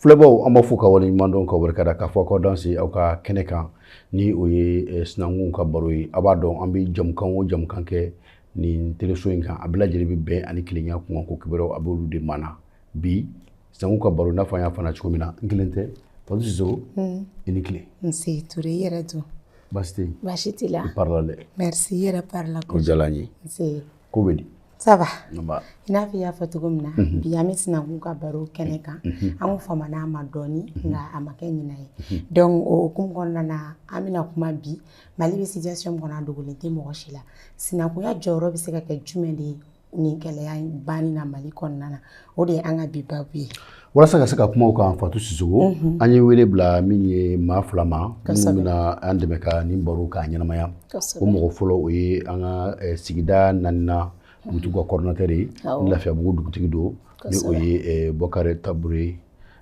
Filɛbaw an b'aw fo k'aw waleɲumandɔn k'aw barikada k'a fɔ k'aw danse aw ka kɛnɛ kan ni o ye eh, sinankunw ka baro ye a b'a dɔn an bɛ jamukan o jamukan kɛ nin teleso in kan a bɛɛ lajɛlen bɛ bɛn ani kelenya kunkanko kibaruyaw a b'olu de maana bi sinankun ka baro n'a fɔ an y'a fɔ cogo min na n kelen tɛ fatu sisoko i ni tile nse ture i yɛrɛ dun baasi tɛ yen baasi t'i la i parila dɛ merci i yɛrɛ parila o diyara n ye nse ko bɛ di ça va i n'a fɔ i y'a fɔ cogo min na mhm. bi an bɛ sinankun ka baro kɛnɛ kan mhm. an ko famana a ma dɔɔni mhm. nka a ma kɛ ɲinɛ ye donc o hukumu kɔnɔna na an bɛna kuma bi mali bɛ situation min kɔnɔ a dogolen tɛ mɔgɔ si la sinankunya jɔyɔrɔ bɛ se ka kɛ jumɛn de ye nin gɛlɛya in banni na mali kɔnɔna na o de ye an ka bi babu ye walasa ka se ka kuma o kan fatu sisoko mhm. an ye wele bila min ye maa fila ma minnu bɛna an dɛmɛ ka nin baro k'a ɲɛnamaya o mɔgɔ fɔlɔ o ye an ka eh, sigida naaninan dugutigi ka coordinateur ye ni lafiyabugu dugutigi don ni o ye eh, bɔkari tabure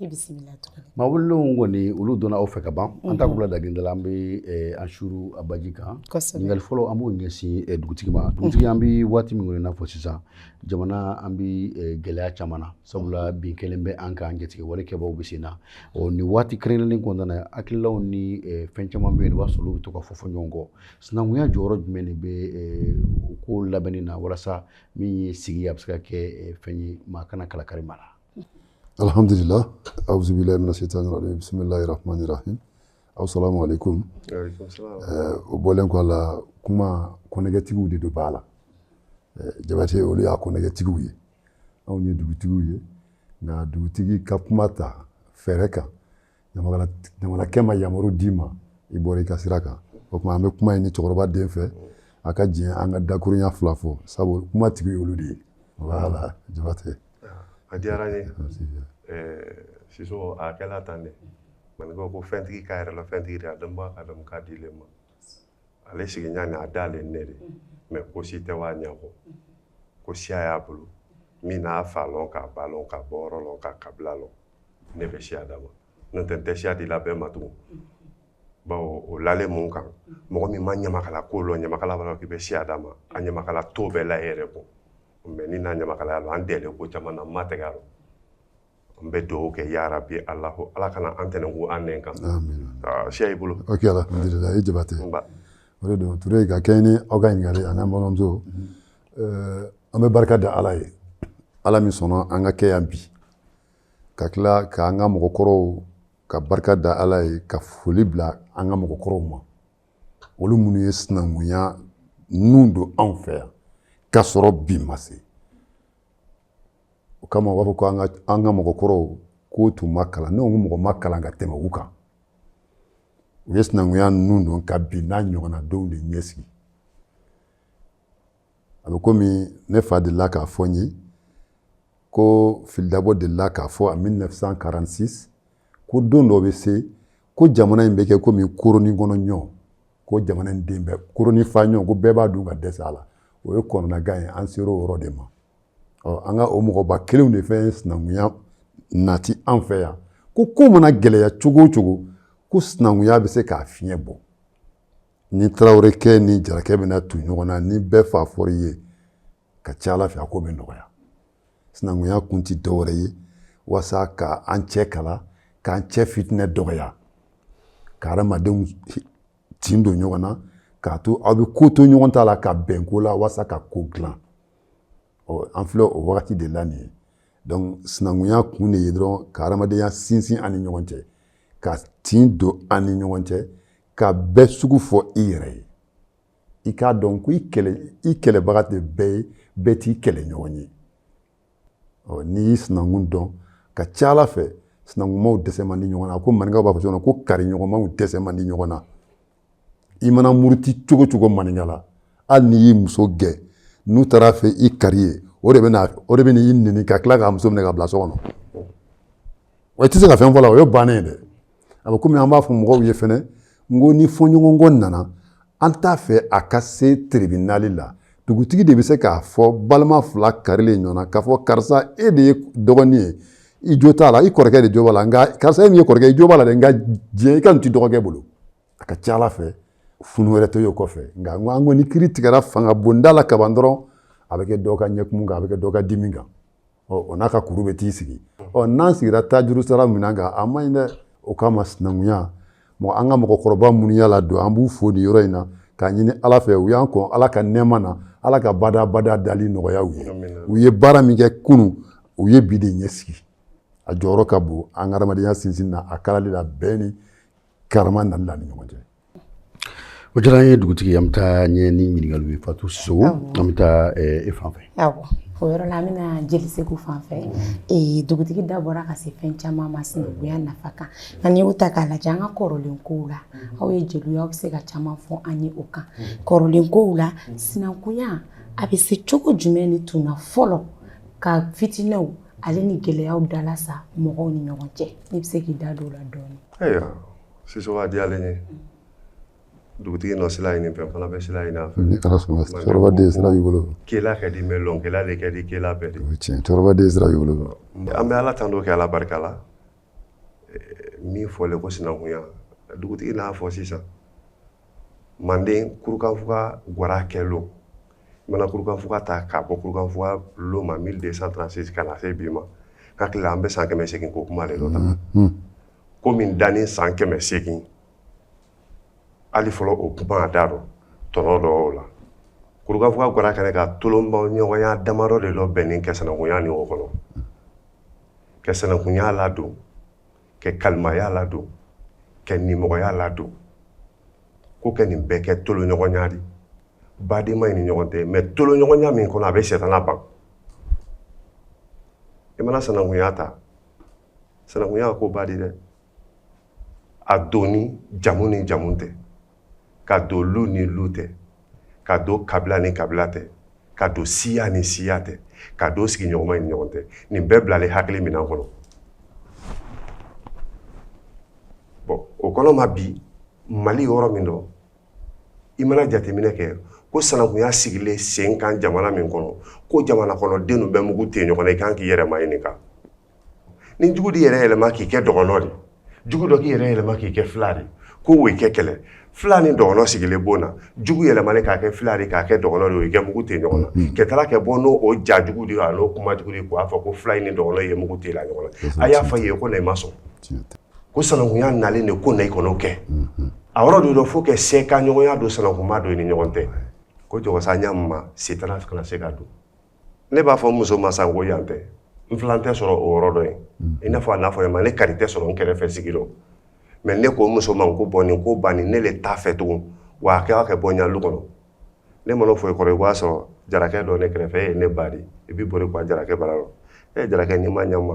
i bisimila tuguni maa welelenw kɔni olu donna aw fɛ ka ban an ta kula dagenda la an bɛ eh, an suuru a baji kan ɲininkali fɔlɔ an b'o ɲɛsin eh, dugutigi ma dugutigi an bɛ waati min kɔnɔ i n'a fɔ sisan jamana an bɛ eh, gɛlɛya caman na sabula bin kɛlen bɛ an kan jatigɛwale kɛbaaw bɛ sen na ɔ nin waati kɛrɛnkɛrɛnnen kɔnɔna na hakililaw ni fɛn caman bɛ yen i b'a sɔrɔ olu bɛ to ka fɔ fɔ ɲɔgɔn kɔ sinankunya jɔyɔrɔ jumɛn de bɛ o ko labɛnni na walasa min ye sigi a bɛ se ka kɛ fɛn ye maa kana kalakari maa la alhamdulillah awuzu bilayi mina shaytani rajim bisimilayi rahmani rahim asalamu aleykum o bɔlen kɔ a la kuma konnɛgɛtigiw de don bala jabate olu y'a konnɛgɛtigiw ye anw ye dugutigiw ye nka dugutigi ka kuma ta fɛrɛ kan ɲamakalakɛ ma yamaru d'i ma i bɔra i ka sira kan o tuma an bɛ kuma ɲini cɛkɔrɔba den fɛ a ka diɲɛ an ka dakurunya fila fɔ sabu kuma tigi olu de ye voilà jabate a diyara n ye sisoko a kɛla tan de maninkaw ko fɛntigi k'a yɛrɛ la fɛntigi de a dɔnba a dɔn k'a dilen ma ale sigiɲa ni a dalen ne de mɛ ko si tɛ w'a ɲɛfɔ ko siya y'a bolo min n'a fa lɔn k'a ba lɔn k'a bɔ yɔrɔ lɔn k'a kabila lɔn ne bɛ siya d'a ma n'o tɛ n tɛ siya di la bɛɛ ma tugun bawo o lalen mun kan mɔgɔ min ma ɲamakala ko lɔn ɲamakala b'a k'i bɛ siya d'a ma a ɲamakala to bɛɛ la e yɛrɛ kɔ mais ni n'a ɲamakalaya lɔn an dɛɛlen ko caman na n ma tɛgɛ a lɔn n bɛ dugawu kɛ ya rabi alahu ala kana an tɛnɛ ko an nɛn kan ah, siya y'i bolo ok alhamdulillah i jabate o de don ture ka kɛɲɛ ni aw ka ɲininkali ani an balimamuso eh, an bɛ barika da ala ye ala min sɔnna an ka kɛ yan bi ka tila k'an ka mɔgɔkɔrɔw ka barika da ala ye ka foli bila an ka mɔgɔkɔrɔw ma olu minnu ye sinankunya ninnu don anw fɛ yan k'a sɔrɔ bi ma se o kama u b'a fɔ ko an ka mɔgɔkɔrɔw k'u tun ma kalan ne ko mɔgɔ ma kalan ka tɛmɛ u kan u ye sinankunya ninnu don ka bi n'a ɲɔgɔnna donw de ɲɛsigi a bɛ komi ne fa delila k'a fɔ n ye ko fili dabo delila k'a fɔ en mille neuf cent quarante-six ko don dɔ bɛ se ko jamana in bɛ kɛ komi koronin kɔnɔ ɲɔ ko jamana in den bɛɛ koronin fa ɲɔ ko bɛɛ b'a dun ka dɛsɛ a la o ye kɔnɔnagan ye an sera o yɔrɔ de ma ɔ an ka o mɔgɔba kelenw de fɛn sinankunya nati an fɛ yan ko ko mana gɛlɛya cogo o cogo ko sinankunya bɛ se k'a fiɲɛ bɔ ni tarawelekɛ ni jarakɛ bɛna tu ɲɔgɔn na ni bɛɛ fa fɔr'i ye ka ca ala fɛ a ko bɛ nɔgɔya sinankunya kun tɛ dɔwɛrɛ ye walasa ka an cɛ kala k'an cɛ fitinɛ dɔgɔya ka adamadenw tin don ɲɔgɔn na k'a to aw bɛ ko to ɲɔgɔn ta la ka bɛn ko la walasa ka ko dilan ɔ an filɛ o wagati de la nin ye donc sinankunya kun de ye dɔrɔn ka adamadenya sinsin an ni ɲɔgɔn cɛ ka tin don an ni ɲɔgɔn cɛ ka bɛɛ sugu fɔ i yɛrɛ ye i k'a dɔn ko i kɛlɛ i kɛlɛbaga tɛ bɛɛ ye bɛɛ t'i kɛlɛɲɔgɔn ye ɔ n'i y'i sinankun dɔn ka ca ala fɛ sinankunmaw dɛsɛ man di ɲɔgɔn na ko maninkaw b'a fɔ cogo ko kariɲɔgɔnmaw dɛsɛ man di ɲɔgɔn na i mana muruti cogo o cogo maninka la hali n'i y'i muso gɛn n'u taar'a fɔ i kari ye o de bɛna o de bɛna i nɛni ka tila k'a muso minɛ ka bila so kɔnɔ wa i tɛ se ka fɛn fɔ a la o ye bannen ye dɛ a bɛ komi an b'a fɔ mɔgɔw ye fɛnɛ n ko ni fɔɲɔgɔnkɔ nana an t'a fɛ a ka se tiribinali la dugutigi de bɛ se k'a fɔ balima fila karilen ɲɔgɔn na k'a fɔ karisa e de ye dɔgɔnin ye i jo t'a la i kɔrɔkɛ de jo b'a la nka karisa e min ye kɔrɔkɛ i jo b'a la dɛ nka diɲɛ i ka nin t'i dɔgɔkɛ bolo a ka ca ala fɛ funu wɛrɛ tɛ ye o kɔfɛ nka n ko an ko ni kiiri tigɛra fanga bonda la kaban dɔrɔn a bɛ kɛ dɔ ka ɲɛkumu kan a bɛ kɛ dɔ ka dimi kan o n'a ka kuru bɛ t'i sigi ɔ n'an sigira tajurusara min kan a man ɲi dɛ o kama sinankunya mɔgɔ an ka mɔgɔkɔrɔba minnu y'a ladon an b'u fo nin yɔrɔ in na k'a ɲini ala fɛ u y'an kɔn ala ka nɛɛma na ala ka badabada dali nɔgɔya u ye u ye baara min kɛ kunun u ye bi de ɲɛsigi a jɔyɔrɔ ka bon an ka adamadenya sinsin na a kalali la bɛn ni karama nali la an ni ɲɔgɔn cɛ O diyara an ye dugutigi an bɛ taa ɲɛ ni ɲininkaliw ye fatu sisɔkɔ an bɛ taa e fan fɛ o yɔrɔ la an bɛna jeli seku fan fɛ dugutigi da bɔra ka se fɛn caman ma sinakuya nafa kan nka n'i y'o ta k'a lajɛ an ka kɔrɔlen ko la aw ye jeliw aw bɛ se ka caman fɔ an ye o kan kɔrɔlen ko la sinakuya a bɛ se cogo jumɛn ni tun ka fɔlɔ ka fitinɛw ale ni gɛlɛyaw dalasa mɔgɔw ni ɲɔgɔn cɛ n'i bɛ se k'i da don o la dɔɔnin Sisɔkɔ a diyalen ye dugutigi nɔ sila ɲini fɛn fana bɛ sila ɲini a fɛ ni ala sɔnna cɛkɔrɔba den sira b'i bolo kɛla ka di mɛ lɔnkɛla de ka di kɛla bɛɛ de o ye tiɲɛ cɛkɔrɔba den sira b'i bolo an bɛ ala tando kɛ ala barika la min fɔlen ko sinankunya dugutigi n'a fɔ sisan manden kurukanfuga gwara kɛ lon i mana kurukanfuga ta k'a bɔ kurukanfuga lon ma 1236 ka na se bi ma ka tila an bɛ san kɛmɛ seegin ko kuma de dɔ ta ko min dannen san kɛmɛ seegin hali fɔlɔ o kuma a da dɔ tɔnɔ dɔ o la kurukanfuga gwara kɛnɛ kan tolonbaw ɲɔgɔnya damadɔ de dɔ bɛnnen kɛ sanakunya ni o kɔnɔ kɛ sanakunya ladon kɛ kalimaya ladon kɛ nimɔgɔya ladon ko kɛ nin bɛɛ kɛ toloɲɔgɔnya di badenma in ni ɲɔgɔn tɛ mɛ toloɲɔgɔnya min kɔnɔ a bɛ sɛtana ban i mana sanakunya ta sanakunya ko ba di dɛ a donni jamu ni jamu tɛ k'a don lu ni lu tɛ k'a don kabila ni kabila tɛ k'a don siya ni siya tɛ k'a don sigiɲɔgɔnma ni ɲɔgɔn tɛ nin bɛɛ bilalen hakili minan kɔnɔ bɔn o kɔnɔ ma bi mali yɔrɔ min dɔ i mana jateminɛ kɛ ko sanakunya sigilen sen kan jamana min kɔnɔ ko jamana kɔnɔ denw bɛ mugu tɛ ɲɔgɔn na i kan k'i yɛrɛ ma ɲininka ni jugu d'i yɛrɛ yɛlɛma k'i kɛ dɔgɔnɔ de jugu dɔ k'i yɛrɛ yɛlɛma k'i kɛ fila de ko wo kɛ kɛlɛ fila ni dɔgɔnɔ sigilen bon na jugu yɛlɛmani k'a kɛ fila de k'a kɛ dɔgɔnɔ de wo kɛ mugu tɛ ɲɔgɔn na mm-hmm. kɛ taara kɛ bɔ n'o ja jugu de a n'o kuma jugu de k'a fɔ ko fila ni dɔgɔnɔ ye mugu tɛ la ɲɔgɔn na a y'a fɔ ye ko na i ma sɔn ko sanankunya nalen de ko na i kɔnɔ kɛ mm-hmm. a yɔrɔ de dɔ fo kɛ se ka ɲɔgɔnya don sanankunya don i ni ɲɔgɔn tɛ ko jɔgɔsa ɲa ma sɛtana kana se ka don ne b'a fɔ n muso ma san ko yan tɛ n filan tɛ sɔrɔ o yɔrɔ dɔ ye mm. i n'a fɔ a n'a fɔ ma ne kari tɛ sɔrɔ n kɛrɛfɛ sigi dɔ mɛ ne ko muso ma ko bɔn nin ko bannin ne le t'a fɛ tugun wa a kɛra kɛ bɔ n ɲa lu kɔnɔ ne mana fɔ i kɔrɔ i b'a sɔrɔ jarakɛ dɔ ne kɛrɛfɛ e ye ne ba di i b'i boli ka wa jarakɛ bara yɔrɔ e ye jarakɛ n'i ma ɲama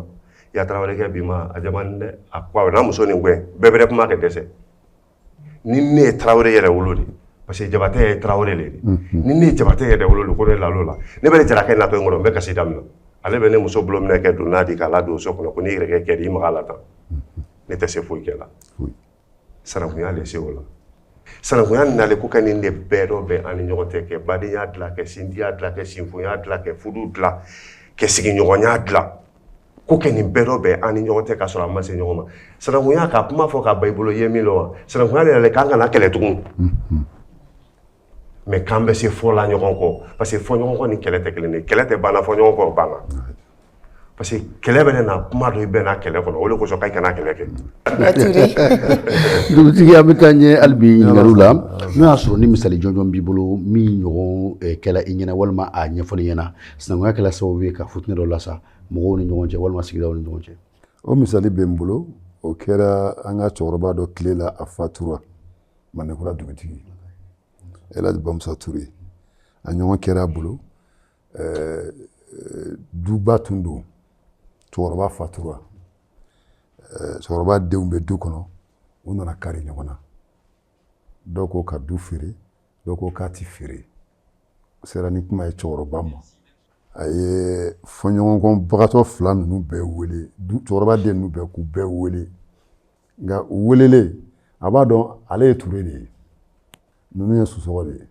i ya tarawelekɛ bi ma a jama dɛ a ko a n'a muso nin gɛn bɛɛ bɛrɛ kuma kɛ dɛsɛ ni ne ye tarawele yɛrɛwolo de parce que jabatɛ ye tarawele de ni ne ye jabatɛ yɛrɛwolo de ko ne lalo la ne bɛ jarakɛ natɔ in kɔnɔ n bɛ kasi daminɛ ale bɛ ne muso bolo minɛ kɛ don n'a de k'a ladon so kɔnɔ ko ne yɛrɛ kɛ di i ma la tan ne tɛ se foyi kɛ la sinankunya de se o la sinankunya nalen ko kɛ nin de bɛɛ dɔ bɛ an ni ɲɔgɔn tɛ kɛ badenya dilan kɛ sinjiya dilan kɛ sinfoya dilan kɛ fudu dilan kɛ sigiɲɔgɔnya dilan ko kɛ nin bɛɛ dɔ bɛ an ni ɲɔgɔn tɛ ka sɔrɔ an ma se ɲɔgɔn ma sinankunya ka kuma fɔ ka ba i bolo i ye min dɔn wa sinankunya de yɛrɛ k'an kana kɛlɛ tugun mais k'an bɛ se fɔ la ɲɔgɔn kɔ parce que fɔɲɔgɔnkɔ ni kɛlɛ tɛ kelen de kɛlɛ tɛ banna fɔɲɔgɔnkɔ banna parce que kɛlɛ bɛ na kuma dɔ i bɛn kɛlɛ kɔnɔ o de kosɔn k'an kana kɛlɛ kɛ dugutigi an bɛ taa ɲɛ hali bi ɲininkaliw la n'o y'a sɔrɔ ni misali jɔnjɔn b'i bolo min ɲɔgɔn kɛla i ɲɛna walima a ɲɛfɔl'i ɲɛna sinankunya kɛla sababu ye ka futinɛ dɔ lasa mɔgɔw ni ɲɔgɔn cɛ walima sigidaw ni ɲɔgɔn cɛ o misali bɛ n bolo o kɛra an ka cɛkɔrɔba dɔ tile la a fatura mandenkura dugutigi elhaji bamusa ture a ɲɔgɔn kɛra a bolo eh, duba tun don cɛkɔrɔba fatura eh, cɛkɔrɔba denw bɛ du kɔnɔ u nana kari ɲɔgɔn na dɔw ko ka du feere dɔw ko k'a tɛ feere u sera ni kuma ye cɛkɔrɔba ma a ye fɔɲɔgɔnkɔbagatɔ fila ninnu bɛɛ wele du cɛkɔrɔba den ninnu bɛɛ k'u bɛɛ wele nka u welelen a b'a dɔn ale ye ture de ye ninnu ye sosɔgɔ de ye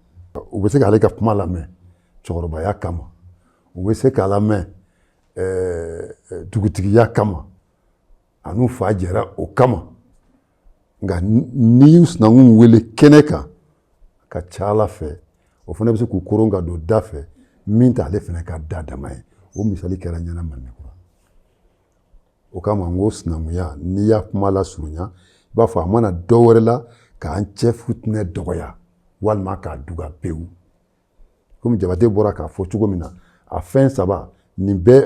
u bɛ se k'ale ka kuma lamɛn cɛkɔrɔbaya kama u bɛ se k'a lamɛn dugutigiya kama a n'u fa jɛra o kama nka n'i y'u sinankun wele kɛnɛ kan ka ca ala fɛ o fana bɛ se k'u koron ka don da fɛ min t'ale fana ka da dama ye o misali kɛra ɲɛna mandenkura o kama n ko sinankunya n'i y'a kuma lasurunya i b'a fɔ a ma na dɔ wɛrɛ la k'an cɛ futinɛ dɔgɔya walima k'a duga pewu komi jabate bɔra k'a fɔ cogo min na a fɛn saba nin bɛɛ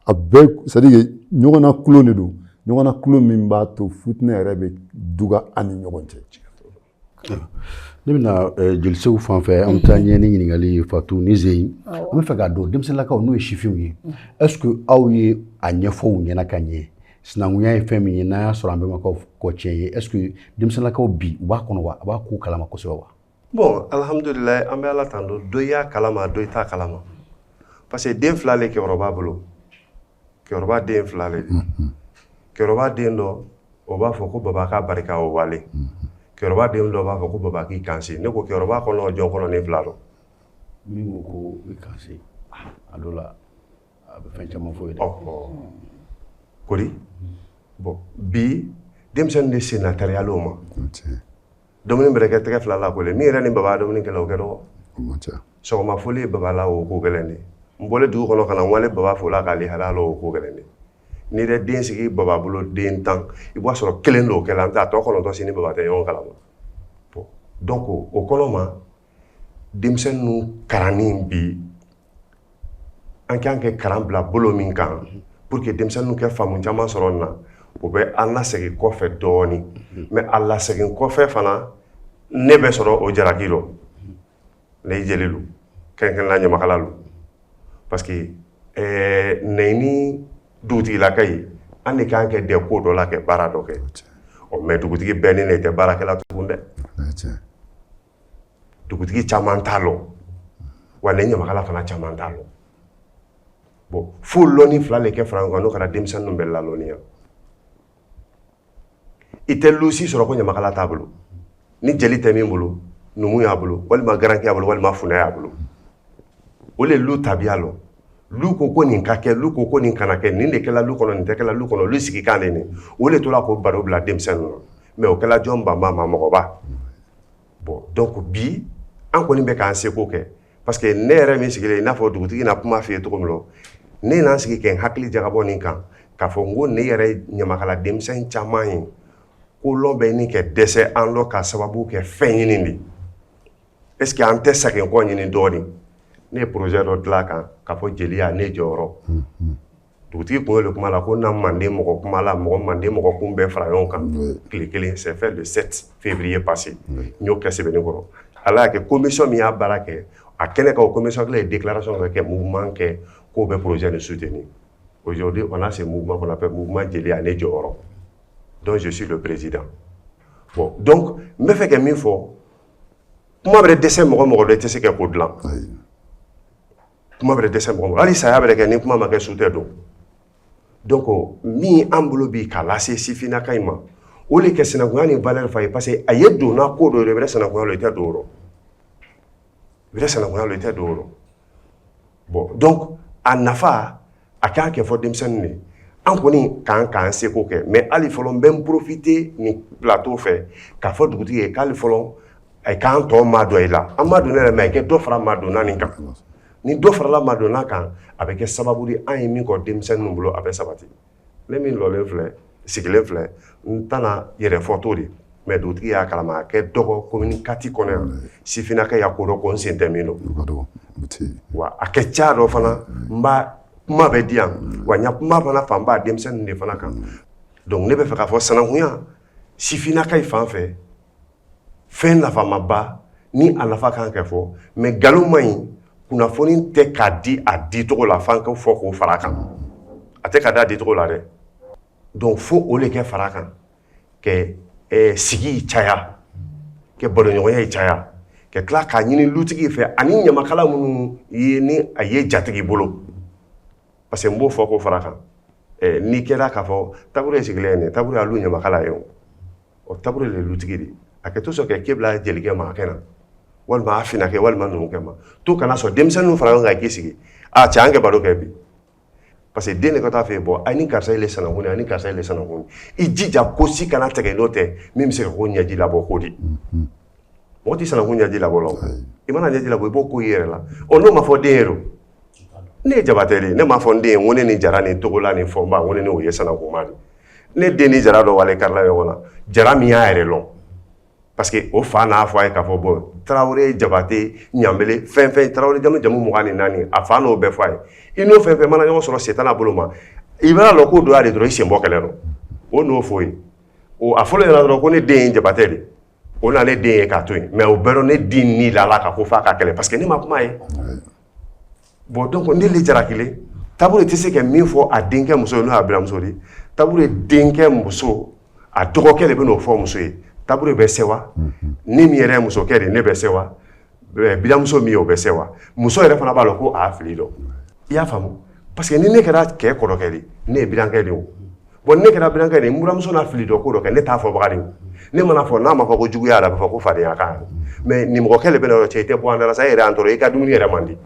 a bɛɛ c'est à dire ɲɔgɔnnakolo de don ɲɔgɔnnakolo min b'a to futinɛ yɛrɛ bɛ duga an ni ɲɔgɔn cɛ ne bɛ na jolisew fan fɛ an bɛ taa ɲɛ ni ɲininkali ye fatu ni zeyi an bɛ fɛ k'a dɔn denmisɛnninlakaw n'o ye sifinw ye est-ce que aw ye a ɲɛfɔ u ɲɛna ka ɲɛ sinankunya ye fɛn min ye n'a y'a sɔrɔ an bɛmakaw kɔ tiɲɛ ye est-ce que denmisɛnninlakaw bi u b'a kɔnɔ wa a b'a k'u kalama kosɛbɛ wa bon alihamudulila an bɛ ala tando dɔ y'a kalama dɔ i t'a kalama parce que den fila le kɛrɔba bolo kɛrɔba den fila le kɛrɔba den dɔ o b'a fɔ ko baba k'a barika o wale kɛrɔba den dɔ b'a fɔ ko baba k'i kanse ne ko kɛrɔba kɔnɔ jɔn kɔnɔ nin fila dɔ min ko ko i kanse a dɔ la a bɛ fɛn caman fɔ ye dɛ kori bon bi denmisɛnnin de sen na tariyalen o ma Dumuni bɛrɛ kɛ tɛgɛ fila la ko n'i yɛrɛ ni baba dumuni kɛ o kɛ dɔgɔ sɔgɔma foli ye baba la o ko gɛlɛn de n bɔra dugu kɔnɔ ka wale baba fo la k'ale hala o ko gɛlɛn de n'i yɛrɛ den sigi baba bolo den tan i b'a sɔrɔ kelen don o kɛlen a ta tɔ kɔnɔntɔn si ni baba tɛ ɲɔgɔn kalama donc o kɔnɔ ma denmisɛn ninnu kalanni bi an kan kɛ kalan bila bolo min kan pour que denmisɛnninw kɛ faamu caman sɔrɔ na o bɛ an lasegin kɔfɛ dɔɔnin mais a lasegin kɔfɛ fana ne bɛ sɔrɔ o jaraki dɔ ne jeli don kɛrɛnkɛrɛnna ɲamakala don parce que ne ni dugutigilaka ye an de kan kɛ dɛ ko dɔ la kɛ baara dɔ kɛ ɔ mais dugutigi bɛɛ ni ne tɛ baara kɛla tugun dɛ dugutigi caman t'a lɔ wa ni ɲamakala fana caman t'a lɔ bon fo lɔnni fila de kɛ fara ɲɔgɔn kan n'o kɛra denmisɛnnin ninnu bɛ lalɔnniya i tɛ lu si sɔrɔ ko ɲamakala t'a bolo ni jeli tɛ min bolo numu y'a bolo walima garanke y'a bolo walima funɛ y'a bolo o le lu tabiya lɔ lu ko ko nin ka kɛ lu ko ko nin kana kɛ nin de kɛla lu kɔnɔ nin tɛ kɛla lu kɔnɔ lu sigikan de nin o le tora k'o baro bila denmisɛnnin na mais o kɛla jɔn banba ma mɔgɔba bon donc bi an kɔni bɛ k'an seko kɛ parce que ne yɛrɛ min sigilen i n'a fɔ dugutigi na kuma f'i ye cogo min na ne na n sigi kɛ n hakili jagabɔ nin kan k'a fɔ n ko ne yɛrɛ ɲamakala denmisɛn caman ye ko lɔn bɛ ni kɛ dɛsɛ an lɔ ka sababu kɛ fɛn ɲini de est ce que an tɛ segin kɔ ɲini dɔɔnin ne ye projet dɔ dilan a kan k'a fɔ jeliya ne jɔyɔrɔ dugutigi tun y'o de kuma la ko na manden mɔgɔ kuma la mɔgɔ manden mɔgɔ kun bɛɛ fara ɲɔgɔn kan tile kelen c'est fait le sept février passé n y'o kɛ sɛbɛnnikɔrɔ ala y'a kɛ commission min y'a baara kɛ a kɛnɛ kan o commission kelen ye déclaration kɛ mouvement kɛ k'o bɛ projet nin soutenir aujourd'hui on a ce mouvement qu'on appelle mouvement jeliya ne jɔyɔrɔ dont je suis le président bon donc n bɛ fɛ kɛ min fɔ kuma bɛrɛ dɛsɛ mɔgɔ mɔgɔ dɔ i tɛ se kɛ ko dilan kuma bɛrɛ dɛsɛ mɔgɔ hali saya bɛrɛ kɛ ni kuma ma kɛ su tɛ don donc min an bolo bi k'a lase sifinnakayi ma o de kɛ sinankunya ni valeur fa ye parce que a ye donna ko dɔ de i bɛrɛ sinankunya lɔn i tɛ don o rɔ i bɛrɛ sinankunya lɔn i tɛ don o rɔ bon donc a nafa a kan kɛ fɔ denmisɛnnin ye an kɔni kan k'an seko kɛ mɛ ali fɔlɔ n bɛ n porofite nin pilato fɛ k'a fɔ dugutigi ye k'ali fɔlɔ a k'an tɔ madon i la an madonnen yɛrɛ mɛ i kɛ dɔ fara madonna nin kan ni dɔ farala madonna kan a bɛ kɛ sababu di an ye min kɔ denmisɛnnin ninnu bolo a bɛ sabati ne min lɔlen filɛ sigilen filɛ n tɛna yɛrɛ fɔ to de mɛ dugutigi y'a kalama a kɛ dɔgɔ komini kati kɔnɔ yan sifinnakaya ko dɔ ko n sen tɛ min dɔ wa a kɛ ca dɔ fana n ba kuma bɛ diya wa n ya kuma fana fanba denmisɛnnin de fana kan dɔnku ne bɛ fɛ k'a fɔ sanankunya sifinnaka fan fɛ fɛn nafamaba ni a nafa kan ka fɔ mɛ nkalon man ɲi kunnafoni tɛ ka di a dicogo la f'an ka fɔ k'o fara kan a tɛ ka di a dicogo la dɛ dɔnku fo o le kɛ fara kan kɛ eh, sigi caya kɛ baloɲɔgɔnya ye caya ka tila k'a ɲini lutigi fɛ ani ɲamakala minnu ye ni a ye jatigi bolo parce que n b'o fɔ k'o fara kan eh, n'i kɛra k'a fɔ tabure ye sigilen ye nin tabure y'a lu ɲamakala ye o o tabure de lutigi de a kɛ to sɔn kɛ k'e bila jelikɛ ma a kɛ na walima a finakɛ walima numukɛ ma to ka na so denmisɛnninw fara ɲɔgɔn kan k'i sigi a cɛ an kɛ baro kɛ bi parce que den de ka taa fɛ bɔ a ni karisa ile sanankun a ni karisa ile sanankun i jija ko si kana tɛgɛ n'o tɛ min bɛ se k'o ɲɛji labɔ ko di mm-hmm. mɔgɔ tɛ sanankun ɲɛji labɔ la i mana ɲɛji labɔ i b'o ko i yɛrɛ la ɔ n'o ma fɔ den ye don ne ye jabate de ne m'a fɔ n den ye ko ne ni jara ni togola ni fɔnba ko ne ni o ye sanankunma de ne den ni jara dɔ wale karila ɲɔgɔn na jara min y'a yɛrɛ lɔn parce que o fa n'a fɔ a ye k'a fɔ bɔn tarawele jabate ɲanbele fɛn fɛn tarawele jamu jamu mugan ni naani a fa n'o bɛɛ fɔ a ye i n'o fɛn fɛn mana ɲɔgɔn sɔrɔ setana bolo ma i b'a lɔn k'o dɔ a de dɔrɔn i sen bɔ kɛlɛ dɔ o n'o fɔ ye o a fɔlɔ yɛrɛ dɔrɔn ko ne den ye jabate de o na ne den ye k'a to yen mɛ o bɛɛ rɔ ne den ni lala ka ko fɔ ka kɛlɛ paseke ne ma kuma ye bɔn dɔnku ne de jalakilen tabure tɛ se ka min fɔ a denkɛ muso ye n'o a biranmuso di tabure denkɛ muso a dɔgɔkɛ de bɛn'o fɔ muso ye tabure bɛ sɛwa ne min yɛrɛ muso kɛ de ne bɛ sɛwa biranmuso min ye o bɛ sɛwa muso yɛrɛ fana b'a lɔn ko a fili don i y'a faamu parce que ni ne kɛra cɛ kɔrɔkɛ de ne ye birankɛ de o bɔn ne kɛra birankɛ de n biranmuso n'a fili dɔn ko dɔ kɛ ne t'a fɔbaga de ne mana fɔ n'a ma fɔ ko jugu y'a la b'a fɔ ko fadenya kan mɛ nimɔgɔkɛ de bɛn'o fɔ cɛ i tɛ bɔ an da la sa yɛrɛ an i ka dumuni yɛrɛ man di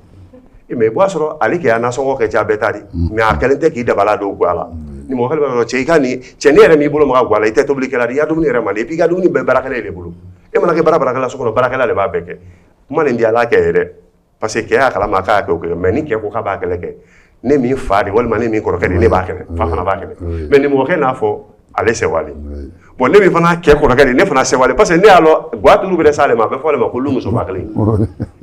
i b'a sɔrɔ ale kɛ' nasɔngɔ kɛ ja bɛɛ ta di mɛ a kɛlen tɛ k'i dabala don ga la nimɔgɔ b'a cɛ i ka nin cɛn ne yɛrɛ m'i bolo ma ga la i tɛ tobili kɛ i ka dumuni yɛrɛ man di i ka dumuni bɛɛ baarakɛla de bolo e mana kɛ baara baarakɛla so kɔnɔ baarakɛla de b'a bɛɛ kɛ o man di a la kɛ ye dɛ parce que kɛ y'a kalama k'a kɛ o kɛ mɛ ni kɛ ko k'a b'a kɛlɛ kɛ ne min fa de walima ne min kɔrɔkɛ de ne b'a kɛlɛ fa fana b'a kɛlɛ mɛ nimɔgɔkɛ n'a fɔ ale sɛwalen bɔn ne min fana kɛ kɔrɔkɛ de ne fana sɛwalen parce que ne y'a lɔn ga tulu bɛ sa ale ma a bɛ fɔ ale ma ko lu musoba kelen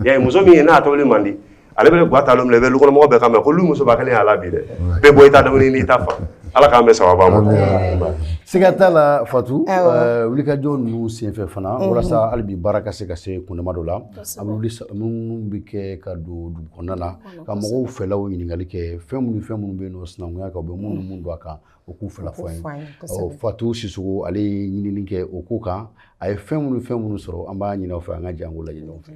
y'a muso min ye n'a tobili man di ale bɛ ga ta minɛ i bɛkɔnɔmɔgɔ bɛɛ kan mɛn muso kelen y'a la bi dɛ bɛɛ bɔ i ta n'i ta fɔ ala k'an bɛɛ saba ma siga t'a la fatu wulikajɔ ninnu senfɛ fana walasa hali bi baara ka se ka se kundama dɔ la a minnu bɛ kɛ ka don dugu kɔnɔna na ka mɔgɔw fɛlaw ɲininkali kɛ fɛn minnu fɛn minnu bɛ yen nɔ sinankunya kan bɛ minnu minnu dɔn a kan u k'u fɛla fɔ an ye fatu sisɔkɔ ale ye ɲinini kɛ o ko kan a ye fɛn minnu fɛn minnu sɔrɔ an b'a ɲini aw fɛ an k'an janto a la ɲɔgɔn fɛ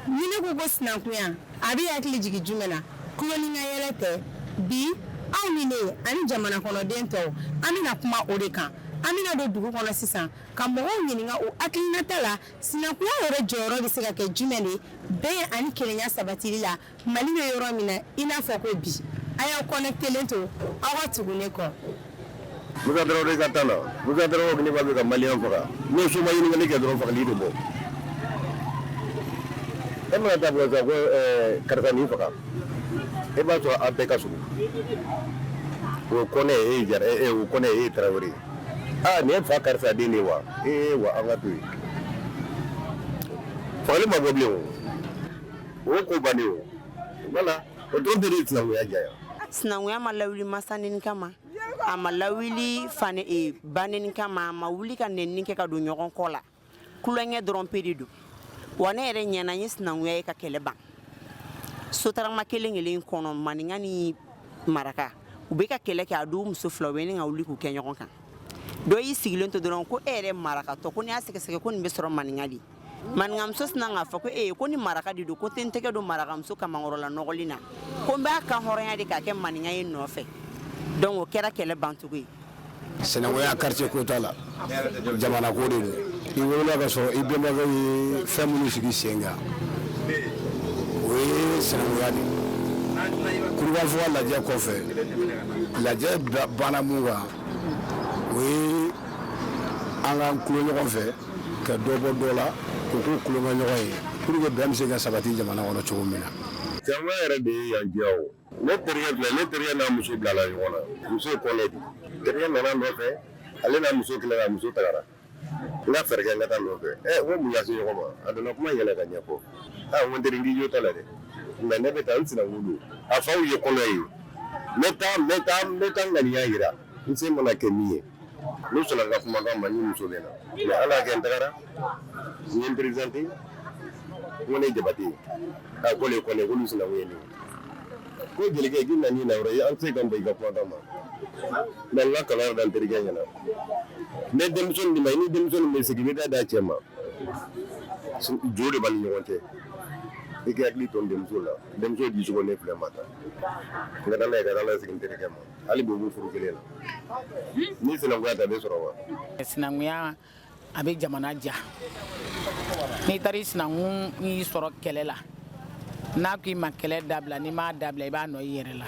ɲini ko ko sinankunya a bɛ hakili jigin jumɛn na tulonkɛ yɛrɛ tɛ bi aw ni ne ani jamana kɔnɔden tɔw an bɛna kuma o de kan an bɛna don dugu kɔnɔ sisan ka mɔgɔw ɲininka u hakilinata la sinankunya yɛrɛ jɔyɔrɔ bɛ se ka kɛ jumɛn de bɛn ani kelenya sabatili la Mali bɛ yɔrɔ min na i n'a fɔ ko bi a y'aw connectelen to aw ka tugu ne kɔ musa tarawele ka taa la n'i b'a fɛ ka maliyɛn faga n'o so ma ɲininkali kɛ dɔrɔn fagali tɛ bɔ e mana taa fɔ ko karisa nin faga e b'a sɔrɔ a bɛɛ ka surun o kɔnɛ e ye jara ye o kɔnɛ e ye tarawele ye aa nin ye fa karisa den de ye wa ee wa an ka to yen fagali ma bɔ bilen o O ko banna wala o dɔrɔn bɛ sinankunya diya yan sinankunya ma lawuli masanin kama ma a ma lawuli banɛni kama a ma wuli ka nɛnini kɛ ka don ɲɔgɔn kɔ la tulonkɛ dɔrɔn pe de don wa ne yɛrɛ ɲɛna ye sinankunya ye ka kɛlɛ ban sotarama kelen kelen kɔnɔ maninka ni maraka u bɛ ka kɛlɛ kɛ a don muso fila bɛ ka wuli k'u kɛ ɲɔgɔn kan dɔ y'i sigilen to dɔrɔn ko e yɛrɛ maraka dɔ ko n'i y'a sɛgɛsɛgɛ ko nin bɛ sɔrɔ maninka de Maninkamuso sinna k'a fɔ ko e ko ni maraka de don ko n tɛ n tɛgɛ don marakamuso kamankɔrɔla nɔgɔlen na ko n b'a kanhɔrɔnya de k'a kɛ maninka ye nɔfɛ dɔnku o kɛra kɛlɛ bancogo ye sinankunya kartiye ko t'a la jamana ko de don i wolola ka sɔrɔ i bɛnbakɛw ye fɛn minnu sigi sen kan o ye sinankunya de kurukanfuga lajɛ kɔfɛ lajɛ banna min kan o ye an ka tulon ɲɔgɔn fɛ ka dɔ bɔ dɔ la k'u kɛ tulonkɛɲɔgɔn ye pour que bɛn bɛ se ka sabati jamana kɔnɔ cogo min na Sinankunya yɛrɛ de ye yan diya o. Ne terikɛ filɛ, ne terikɛ n'a muso bilala ɲɔgɔn na. Muso ye kɔnɛ de. Terikɛ nana n nɔfɛ, ale n'a muso kɛlɛla, muso tagara. N ka fɛɛrɛ kɛ n ka taa nɔfɛ. Ɛ n ko mun y'aw se ɲɔgɔn ma? A nana kuma yɛlɛ ka ɲɛfɔ. A n ko n teri n k'i jo t'a la dɛ. Nka ne bɛ taa n sinankun don. A faw ye kɔnɛ ye. N bɛ taa n bɛ taa n bɛ taa ŋaniya jira. N se mana kɛ min ye. n'u sɔnna n ka kuma kan ma ni muso bɛ na mais ala y'a kɛ n tagara n ye n présenté n ko ne jabate a ko le kɔni k'olu sinankun ye ne ye ko jelikɛ k'i na n'i na yɔrɔ ye an tɛ se ka ban i ka kuma kan ma mais n ka kalan da n terikɛ ɲɛna ne denmuso nin ma i ni denmuso nin bɛ sigi i bɛ taa d'a cɛ ma jo de b'a ni ɲɔgɔn cɛ i ka hakili to n denmuso la denmuso di cogo ne filɛ ma ta n ka taa n'a ye ka taa n'a ye sigi n terikɛ ma hali bi u b'u furu kelen na ni sinankunya ta bɛ sɔrɔ wa sinankunya a bɛ jamana diya n'i taara i sinankun y'i sɔrɔ kɛlɛ la n'a ko i ma kɛlɛ dabila n'i m'a dabila i b'a nɔ i yɛrɛ la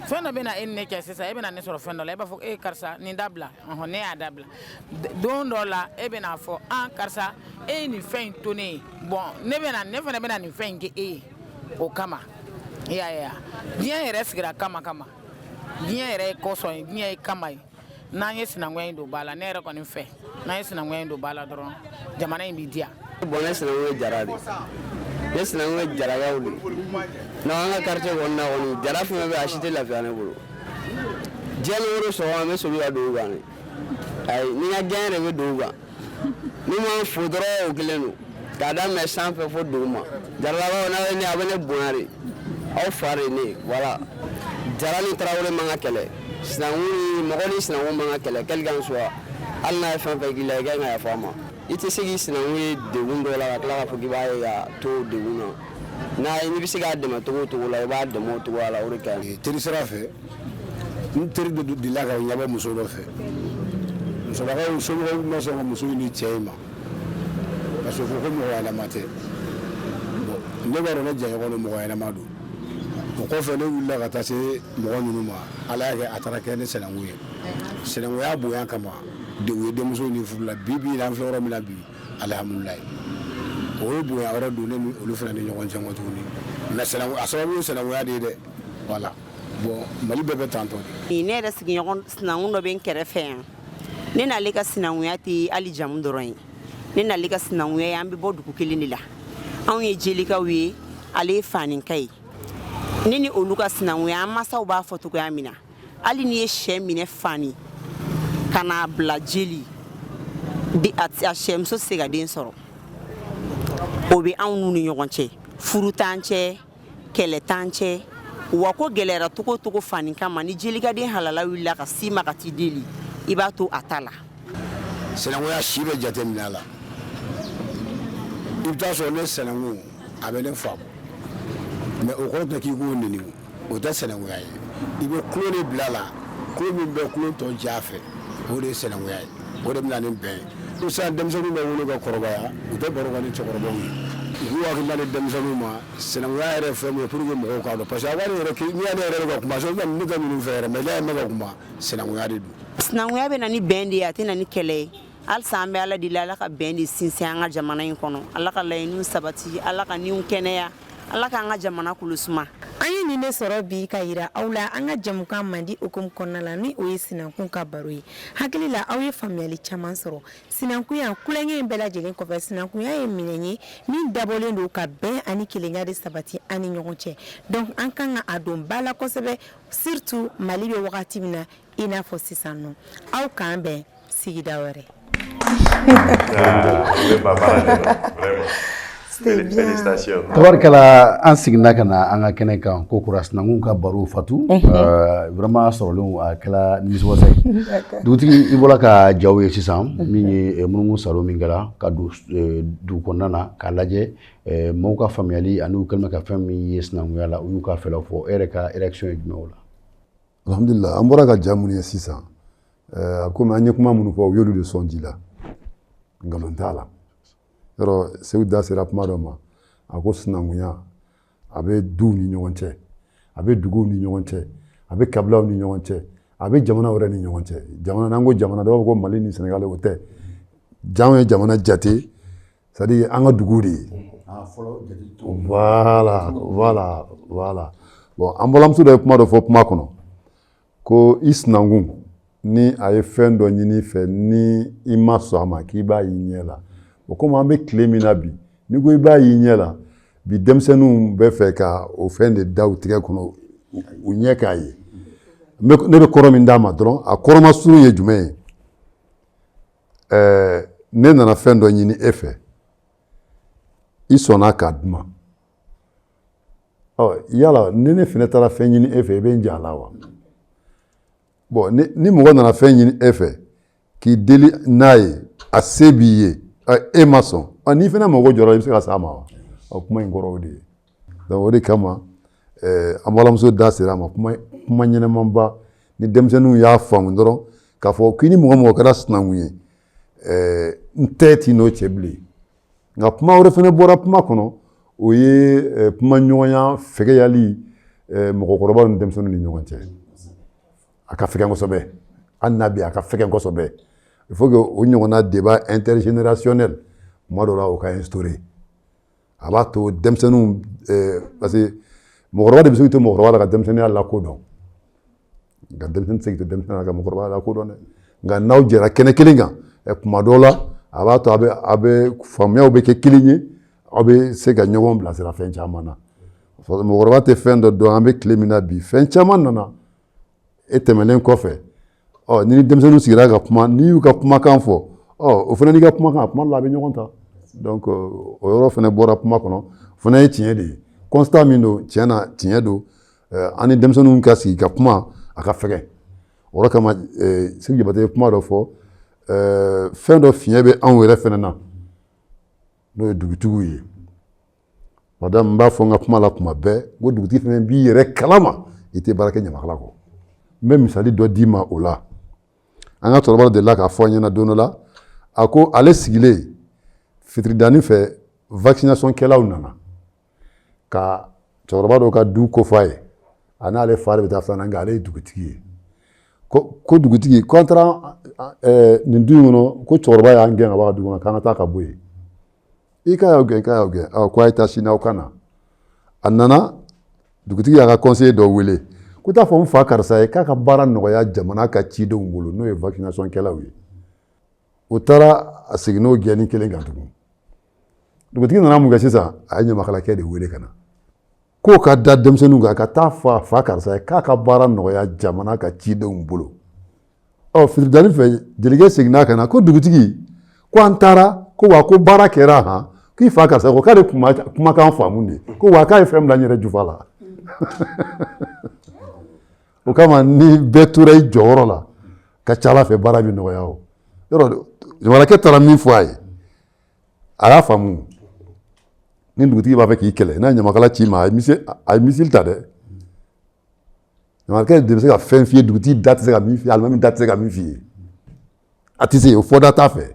fɛn dɔ bɛna e ni ne cɛ sisan e bɛna ne sɔrɔ fɛn dɔ la e b'a fɔ e karisa nin dabila ɔhɔn ne y'a dabila D- don dɔ la e bɛna a fɔ an karisa e ye nin fɛn in to ne ye bɔn ne bɛna ne fana bɛna nin fɛn in kɛ e ye o kama i y'a ye wa diɲɛ yɛrɛ sigira kama kama diɲɛ yɛrɛ ye kɔsɔn ye diɲɛ ye kama ye n'an ye sinankunya in don ba la ne yɛrɛ kɔni fɛ n'an ye sinankunya in don ba la dɔrɔn jamana in bɛ diya bɔn ne sinankun ye jara de ne sinankun ye jarakaw de n'an an ka quartier kɔnɔna kɔni jara fɛn o fɛn bɛ a si tɛ lafiya ne bolo diɲɛ ni woro sɔgɔma an bɛ soli ka don u kan de ayi ni n ka diɲɛ yɛrɛ bɛ don u kan N'u m'an fo dɔrɔn o kelen don k'a daminɛ sanfɛ fo duguma jaralakaw n'a ye ne a bɛ ne bonya de aw fa de ye ne voilà jara ni tarawele man ka kɛlɛ sinankun mɔgɔ ni sinankun man ka kɛlɛ quel qu'en soit hali n'a ye fɛn fɛn k'i la i ka kan ka yafa a ma i tɛ se k'i sinankun ye degun dɔ la ka tila k'a fɔ k'i b'a ye ka to degun na ayi n'i bɛ se k'a dɛmɛ cogo o cogo la i b'a dɛmɛ o cogoya la o de ka ɲi teri sira fɛ n teri dɔ delila ka ɲɛbɔ muso dɔ fɛ musolakaw somɔgɔw ma sɔn ka muso nin di cɛ in ma parce que ko ko mɔgɔ ɲɛnama tɛ ne b'a dɔn ne jɛɲɔgɔn don mɔgɔ ɲɛnama don o kɔfɛ ne wulila ka taa se mɔgɔ ninnu ma ala y'a kɛ a taara kɛ ne sinankun ye sinankunya bonya kama de u ye denmuso di furu la bi bi in na an filɛ yɔrɔ min na bi alihamudulilayi o ye bonya wɛrɛ don ne ni olu fana ni ɲɔgɔn cɛ kɔ tuguni mais a sababu ye sinankunya de ye dɛ voilà Mali bɛɛ bɛ tan ne yɛrɛ sigiɲɔgɔn sinankun dɔ bɛ n kɛrɛfɛ yan ne n'ale ka sinankunya tɛ hali jamu dɔrɔn ye ne n'ale ka sinankunya ye an bɛ bɔ dugu kelen de la anw ye jelikaw ye ale ye faninka ye ne ni olu ka sinankunya an masaw b'a fɔ cogoya min na hali n'i ye sɛ minɛ fani ka n'a bila jeli a sɛmuso tɛ se ka den sɔrɔ o bɛ anw ni ɲɔgɔn cɛ furu t'an cɛ kɛlɛ t'an cɛ wa ko gɛlɛyara togo togo fani kama ni jeli ka den halala wulila ka s'i ma ka t'i deli i b'a to a ta la sinankunya si bɛ jate minɛ a la i bɛ t'a sɔrɔ ne sinankun a bɛ ne faamu mais o kɔrɔ tɛ k'i k'o neni o tɛ sinankunya ye i bɛ tulon de bila a la tulon min bɛ tulon tɔ ja fɛ o de ye sinankunya ye o de bɛ na ni bɛn ye ko sisan denmisɛnninw bɛ wolo ka kɔrɔbaya u tɛ baro kɛ ni cɛkɔrɔbaw ye u k'u hakili di denmisɛnninw ma sinankunya yɛrɛ fɛn min ye pour que mɔgɔw k'a dɔn parce que a wari yɛrɛ n'i y'ale yɛrɛ bɛ ka kuma sɔrɔ ne ka ninnu fɛ yɛrɛ mais n'i y'a mɛn ka kuma sinankunya de don sinankunya bɛ na ni bɛn de ye a tɛ na ni kɛlɛ ye halisa an bɛ ala deli ala ka bɛn de sinsin an ka jamana in kɔnɔ ala ka laɲiniw sabati ala ka niw kɛnɛya ala k'an ka jamana kolo suma an ye nin de sɔrɔ bi ka yira aw la an ka jɛmukan mandi hukumu kɔnɔna la ni o ye sinankun ka baro ye hakili la aw ye faamuyali caman sɔrɔ sinankunya ko la nka nin bɛɛ lajɛlen kɔfɛ sinankunya ye minɛn ye min dabɔlen don ka bɛn ani kelenya de sabati an ni ɲɔgɔn cɛ donc an ka kan ka a don ba la kosɛbɛ surtout mali bɛ wagati min na i n'a fɔ sisan nɔ aw k'an bɛn sigida wɛrɛ tabarikala an seginna ka na an ka kɛnɛ kan ko kura sinankun ka baro fatu vraiment sɔrɔlen a kɛra nimisiwasa ye dugutigi i bɔra ka jaw ye sisan min ye munumunu salo min kɛra ka don dugu kɔnɔna na k'a lajɛ maaw ka faamuyali ani u kɛlen ka fɛn min ye sinankunya la u y'u ka fɛla fɔ e yɛrɛ ka réaction ye jumɛn o la alhamdulila an bɔra ka ja minnu ye sisan Ɛɛ a komi an ye kuma minnu fɔ u y'olu de sɔn ji la nkalon t'a la yɔrɔ seku da sera kuma dɔ ma a ko sinankunya a bɛ duw ni ɲɔgɔn cɛ a bɛ duguw ni ɲɔgɔn cɛ a bɛ kabilaw ni ɲɔgɔn cɛ a bɛ jamanaw yɛrɛ ni ɲɔgɔn cɛ jamana n'an ko jamana dɔw b'a fɔ ko mali ni sɛnɛgali o tɛ janw ye jamana jate c'est à dire an ka duguw de ye ah, voilà voilà voilà bon an balimamuso dɔ ye kuma dɔ fɔ kuma kɔnɔ ko i sinankun ni a ye fɛn dɔ ɲini i fɛ ni i ma sɔn a ma k'i b'a y'i ɲɛ la o komi an bɛ tile min na bi n'i ko i b'a y'i ɲɛ la bi denmisɛnninw bɛ fɛ ka o fɛn de da u tigɛ kɔnɔ u ɲɛ k'a ye ne bɛ kɔrɔ min d'a ma dɔrɔn a kɔrɔma surun ye jumɛn ye ɛɛ ne nana fɛn dɔ ɲini e fɛ i sɔnna k'a di n ma yala ni ne fana taara fɛn ɲini e fɛ i bɛ n jɛ a la wa ni mɔgɔ nana fɛn ɲini e fɛ k'i deli n'a ye a se b'i ye e ma sɔn n'i fana mago jɔra i bɛ se ka s'a ma wa o kuma in kɔrɔ o de ye o de kama an balimamuso da sera a ma kuma ɲɛnɛmanba ni denmisɛnninw y'a faamu dɔrɔn k'a fɔ k'i ni mɔgɔ mɔgɔ kɛra sinankun ye n tɛ t'i n'o cɛ bilen nka kuma wɛrɛ fana bɔra kuma kɔnɔ o ye eh, kumaɲɔgɔnya fɛgɛyali eh, mɔgɔkɔrɔba ni denmisɛnnin ni ɲɔgɔn cɛ a ka fɛgɛn kosɛbɛ hali n'a bɛ a ka fɛgɛn kosɛbɛ il faut que o ɲɔgɔnna débat intergénérationnel tuma dɔ la o ka instaurer a b'a to denmisɛnninw eh, parce que mɔgɔkɔrɔba de bɛ se k'i to mɔgɔkɔrɔba la ka denmisɛnninya lakodɔn nka denmisɛnnin tɛ se k'i to denmisɛnninya la ka mɔgɔkɔrɔba lakodɔn dɛ nka n'aw jɛra kɛnɛ kelen kan tuma dɔ la a b'a to a bɛ a bɛ faamuyaw bɛ kɛ kelen ye aw bɛ se ka ɲɔgɔn bilasira fɛn caman na mɔgɔkɔrɔba tɛ fɛn dɔ dɔn an bɛ tile min na bi fɛn caman nana e tɛmɛnen kɔfɛ ɔ ni denmisɛnninw sigira ka kuma n'i y'u ka kumakan fɔ ɔ o fana n'i ka kumakan a tuma dɔ la a bɛ ɲɔgɔn ta donc o yɔrɔ fana bɔra kuma kɔnɔ o fana ye tiɲɛ de ye constat min don tiɲɛ na tiɲɛ don an ni denmisɛnninw ka sigi ka kuma a ka fɛgɛn o kama seku jabate ye kuma dɔ fɔ fɛn dɔ fiɲɛ bɛ anw yɛrɛ fana na n'o ye dugutigiw ye madame n b'a fɔ n ka kuma la kuma bɛɛ ko dugutigi fana b'i yɛrɛ kalama i tɛ baara kɛ ɲamakala kɔ n bɛ misali dɔ d'i ma o la an ka cɛkɔrɔba delila k'a fɔ an ɲɛna don dɔ la a ko ale sigilen fitiridanin fɛ vaccination kɛlaw nana ka cɛkɔrɔba dɔ ka du kofɔ a ye a n'ale fa de bɛ taa filanan nka ale ye dugutigi ye ko dugutigi ko an taara nin du in kɔnɔ ko cɛkɔrɔba y'an gɛn ka bɔ du kɔnɔ k'an ka taa ka bɔ yen i k'a y'aw gɛn k'a y'aw gɛn ɔ ko a ye taa sini aw ka na a nana dugutigi y'a ka conseiller dɔ wele ko t'a fɔ n fa karisa ye k'a ka baara nɔgɔya jamana ka cidenw bolo n'o ye vaccination kɛlaw ye u taara a seginna o gɛnni kelen kan tugun dugutigi nana mun kɛ sisan a ye ɲamakalakɛ de wele ka na k'o ka da denmisɛnninw kan ka taa fɔ a fa karisa ye k'a ka baara nɔgɔya jamana ka cidenw bolo ɔ fitiridanin fɛ jelikɛ seginna ka na ko dugutigi ko an taara ko wa ko baara kɛra han k'i fa karisa ko k'ale kumakan faamu de ko wa k'a ye fɛn bila n yɛrɛ jufa la o kama ni bɛɛ tora i jɔyɔrɔ la ka ca ala fɛ baara bɛ nɔgɔya o yɔrɔ ɲamakalakɛ taara min fɔ a ye a y'a faamu ni dugutigi b'a fɛ k'i kɛlɛ n'a ɲamakala c'i ma a ye misali ta dɛ ɲamakala de bɛ se ka fɛn f'i ye dugutigi da tɛ se ka min f'i ye alimami da tɛ se ka min f'i ye a tɛ se o fɔda t'a fɛ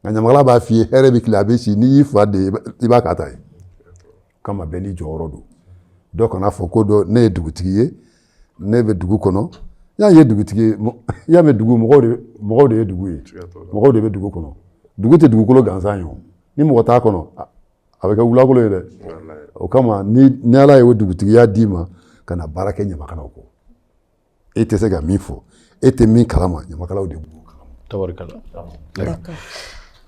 nka ɲamakala b'a f'i ye hɛrɛ bɛ tilen a bɛ si n'i y'i fa de i b'a k'a ta ye kama bɛɛ n'i jɔyɔrɔ don dɔ kana fɔ ko dɔ ne ye dugutigi ye ne bɛ dugu kɔnɔ y'a ye dugutigi i y'a mɛn dugu mɔgɔw de ye dugu ye mɔgɔw de bɛ dugu kɔnɔ dugu tɛ dugukolo gansan ye ni mɔgɔ t'a kɔnɔ a bɛ kɛ wulakolo ye dɛ o kama ni ala ye o dugutigiya d'i ma kana baara kɛ ɲamakalaw kɔ e tɛ se ka min fɔ e tɛ min kalama ɲamakalaw de b'o kalama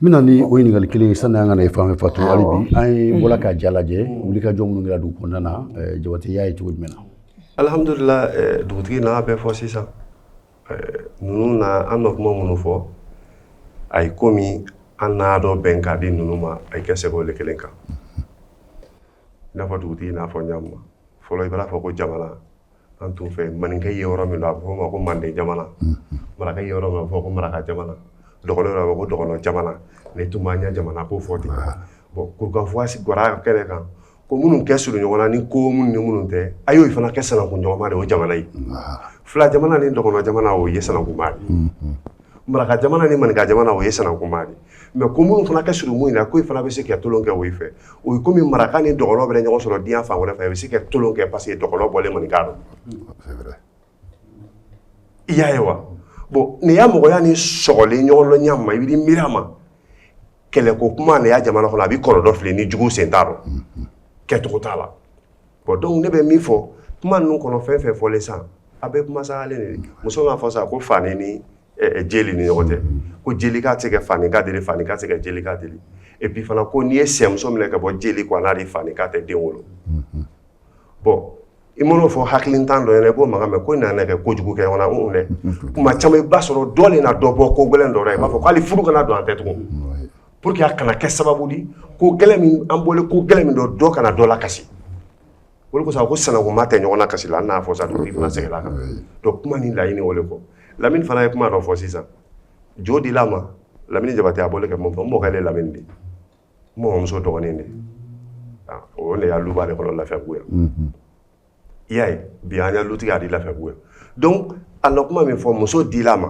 n bɛna ni o ɲininkali kelen ye sanni an ka na i fan fɛ Fatu hali bi an ye bɔra ka ja lajɛ wulikajɔ minnu kɛra dugu kɔnɔna na eh, Jabate y'a ye cogo jumɛn na alihamudulila eh, dugutigi n'a bɛɛ fɔ sisan eh, ninnu na an bɛ kuma minnu fɔ a ye komi an n'a dɔn bɛn ka di ninnu ma a ye kɛ sɛbɛn o kelen kan i n'a fɔ dugutigi n'a fɔ ɲa min ma fɔlɔ i b'a fɔ ko jamana an t'o fɛ maninka ye yɔrɔ min a bɛ fɔ o ma ko manden jamana maraka ye yɔrɔ min a bɛ fɔ ko maraka jamana dɔgɔnɔ yɔrɔ a bɛ fɔ ko dɔgɔnɔ jamana ne tun b'a ɲɛ jamana ko fɔ ten bon Kurukanfuga gwara kɛnɛ kan ko minnu ka surun ɲɔgɔn na ni ko minnu ni minnu tɛ a y'o fana kɛ sanankun ɲɔgɔnma de o jamana ye fila jamana ni dɔgɔnɔ jamana o ye sanankunma ye Maraka jamana ni maninka jamana o ye sanankunma de ye mais ko minnu fana ka surun mun in na ko i fana bɛ se ka tolon kɛ o fɛ o ye komi maraka ni dɔgɔnɔ bɛ ɲɔgɔn sɔrɔ diɲɛ fan wɛrɛ fɛ i bɛ se ka tolon kɛ parce que dɔgɔnɔ bɔlen maninka dɔ i y'a ye wa bon nin y'a mɔgɔya ni sɔgɔlen ɲɔgɔn dɔ ɲa ma i bɛ miiri a ma kɛlɛ ko kuma nin y'a jamana kɔnɔ a bɛ kɔlɔlɔ filɛ ni jugu sen t'a rɔ kɛcogo t'a la Bon donc ne bɛ min fɔ kuma ninnu kɔnɔ fɛn fɛn fɔlen sisan a bɛ kuma sa ale de muso b'a fɔ sa ko fani ni jeli ni ɲɔgɔn cɛ ko jelika tɛ fanika deli fanika tɛ jelika deli et puis fana ko n'i ye sɛmuso minɛ ka bɔ jeli kun fanika tɛ den wolo bon i man'o fɔ hakilintan dɔ k'o mankan mɛn ko nana kɛ ko kojugu kɛ ɲɔgɔn na dɛ kuma caman i b'a sɔrɔ dɔ na dɔ bɔ ko gɛlɛn dɔ i b'a fɔ ko hali furu kana don an tɛ tugun Pour que a kana kɛ sababu di ko gɛlɛn min an bɔlen ko gɛlɛn min dɔ dɔ kana dɔ lakasi o de kosɔn a ko sanankunma tɛ ɲɔgɔn na kasi la hali n'a y'a fɔ sa dugutigi fana seginna a kan donc kuma ni laɲini o de kɔ Lamini fana ye kuma dɔ fɔ sisan jo dila a ma Lamini Jabate a bɔlen ka kuma min fɔ n mɔkɛ de ye Lamini de ye n mɔmɔmuso dɔgɔnin de aa o de ya luba de kɔnɔ Lafiyabugu yan. i y'a ye bi an ka lutigi a di Lafiyabugu yan donc a na kuma min fɔ muso dila a ma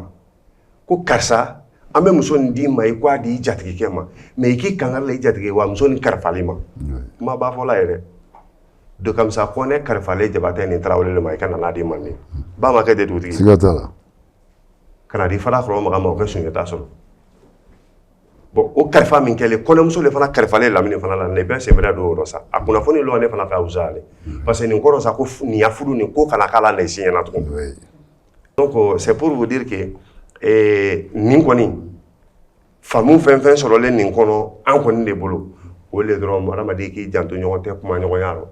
ko karisa an bɛ muso nin d'i ma i k'a di i jatigikɛ ma mais i k'i kangari da i jatigi ye wa muso nin kalifalen i ma kumaba fɔla ye dɛ Dokamisa Kɔnɛ kalifalen Jabatɛ ni Tarawele de ma i ka na n'a di Manden ba ma kɛ ten dugutigi siga t'a la ka n'a di Farakɔrɔ Makan ma o ka Sunjata sɔrɔ bon o kalifa min kɛlen kɔɲɔmuso de fana kalifalen Lamini fana la nin bɛɛ senbɛrɛ don yɔrɔ sa a kunnafoni lɔ ne fana fɛ wusa ale parce que nin kɔrɔ sa ko nin ya furu nin ko kana k'a la den si ɲɛna tugun donc c'est pour vous dire que eh, nin kɔni faamu fɛn fɛn sɔrɔlen nin kɔnɔ an kɔni de bolo o le dɔrɔn adamaden k'i janto ɲɔgɔn tɛ kumaɲɔgɔnya rɔ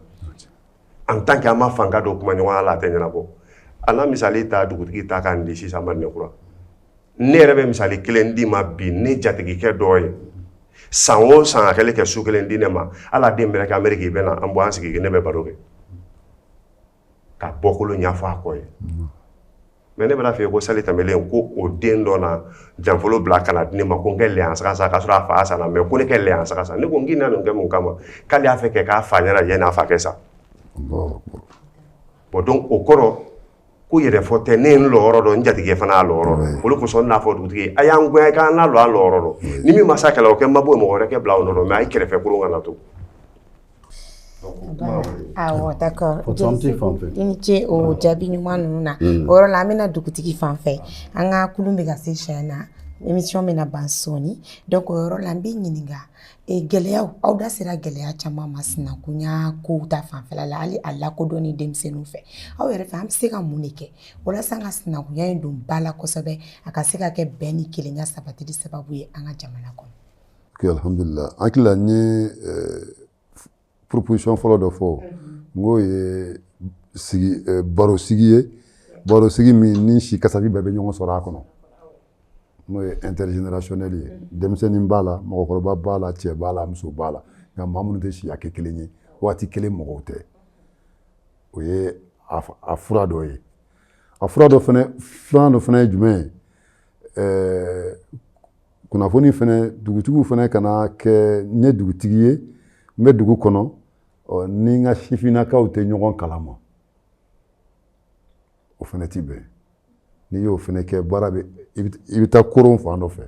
en tant que an ma fanga don kuma ɲɔgɔnya la a tɛ ɲɛnabɔ an ka misali ta dugutigi ta k'an di sisan Madinɛkura ne yɛrɛ bɛ misali kelen d'i ma bi ne jatigikɛ dɔ ye san o san a kɛlen kɛ su kelen di ne ma a la den bɛrɛ kɛ Ameriki bɛ na an bɔ an sigi ne bɛ baro kɛ ka bɔkolo ɲɛfɔ a kɔ ye mais ne bɛna fɛ ko sali tɛmɛlen ko o den dɔ na janfolo bila ka na di ne ma ko n kɛ layan saga san k'a sɔrɔ a fa sanna mais ko ne kɛ layan saga san ne ko n k'i na nin kɛ mun kama k'ale y'a fɛ kɛ k'a fa ɲɛna yanni a fa kɛ sa bon donc o kɔrɔ ko yɛrɛ fɔ tɛ ne ye n lɔyɔrɔ dɔn n jatigikɛ fana y'a lɔyɔrɔ dɔn olu kosɔn n'a fɔ dugutigi a y'an goya k'an n'a lɔ an lɔyɔrɔ dɔn ni min ma sa kɛlɛ o kɛ n ma bɔ mɔgɔ wɛrɛ kɛ bila o nɔ dɔn mais a ye kɛrɛfɛ koron kana to Awɔ d'accord i ni ce o jaabi ɲuman ninnu na o yɔrɔ la an bɛ na dugutigi fan fɛ an ka kulun bɛ ka se siyɛn na émission bɛna ban sɔɔni donc o yɔrɔ la n bɛ ɲininka gɛlɛyaw aw da sera gɛlɛya caman ma sinankunya kow ta fanfɛla la hali a lakodɔnni denmisɛnninw fɛ aw yɛrɛ fɛ an bɛ se ka mun de kɛ walasa an ka sinankunya in don ba la kosɛbɛ a ka se ka kɛ bɛn ni kelenya sabatili sababu ye an ka jamana kɔnɔ. Alhamdulila an hakili la n ye proposition fɔlɔ dɔ fɔ n k'o ye barosigi ye barosigi min ni si kasabi bɛɛ bɛ ɲɔgɔn sɔrɔ a kɔnɔ n'o ye intergénérationnel ye denmisɛnnin b'a la mɔgɔkɔrɔba b'a la cɛ b'a la muso b'a la nka maa minnu tɛ si hakɛ kelen ye waati kelen mɔgɔw tɛ o ye a fura dɔ ye a fura dɔ filanan dɔ fana ye jumɛn ye kunnafoni fana dugutigiw fana kana kɛ n ye dugutigi ye n bɛ dugu kɔnɔ ni n ka sifinnakaw tɛ ɲɔgɔn kalama o fana tɛ bɛn n'i y'o fana kɛ baara bɛ i bɛ taa koron fan dɔ fɛ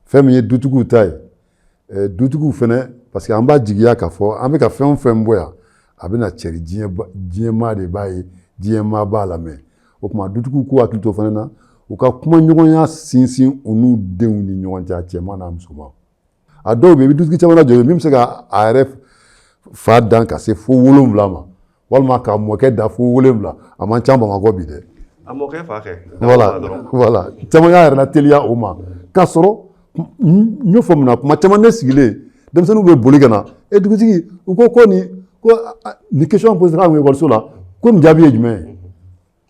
fɛn min ye dutigiw ta ye dutigiw fana parce que an b'a jigiya k'a fɔ an bɛ ka fɛn o fɛn bɔ yan a bɛna cɛri diɲɛmaa de b'a ye diɲɛmaa b'a lamɛn o tuma dutigiw k'u hakili to fana na u ka kumaɲɔgɔnya sinsin u n'u denw ni ɲɔgɔn cɛ a cɛman n'a musoman a dɔw bɛ yen i bɛ dutigi caman najɔ min bɛ se ka a yɛrɛ fa dan ka se fo wolonwula ma walima ka mɔkɛ dan fo wolonwula a man ca bamakɔ bi dɛ a mɔkɛ fa kɛ voilà voilà caman y'a yɛrɛ lateliya o ma k'a sɔrɔ n y'o fɔ mun na kuma caman ne sigilen denmisɛnninw bɛ boli ka na e dugutigi u ko ko nin ko nin question poséra ekɔliso la ko nin jaabi ye jumɛn ye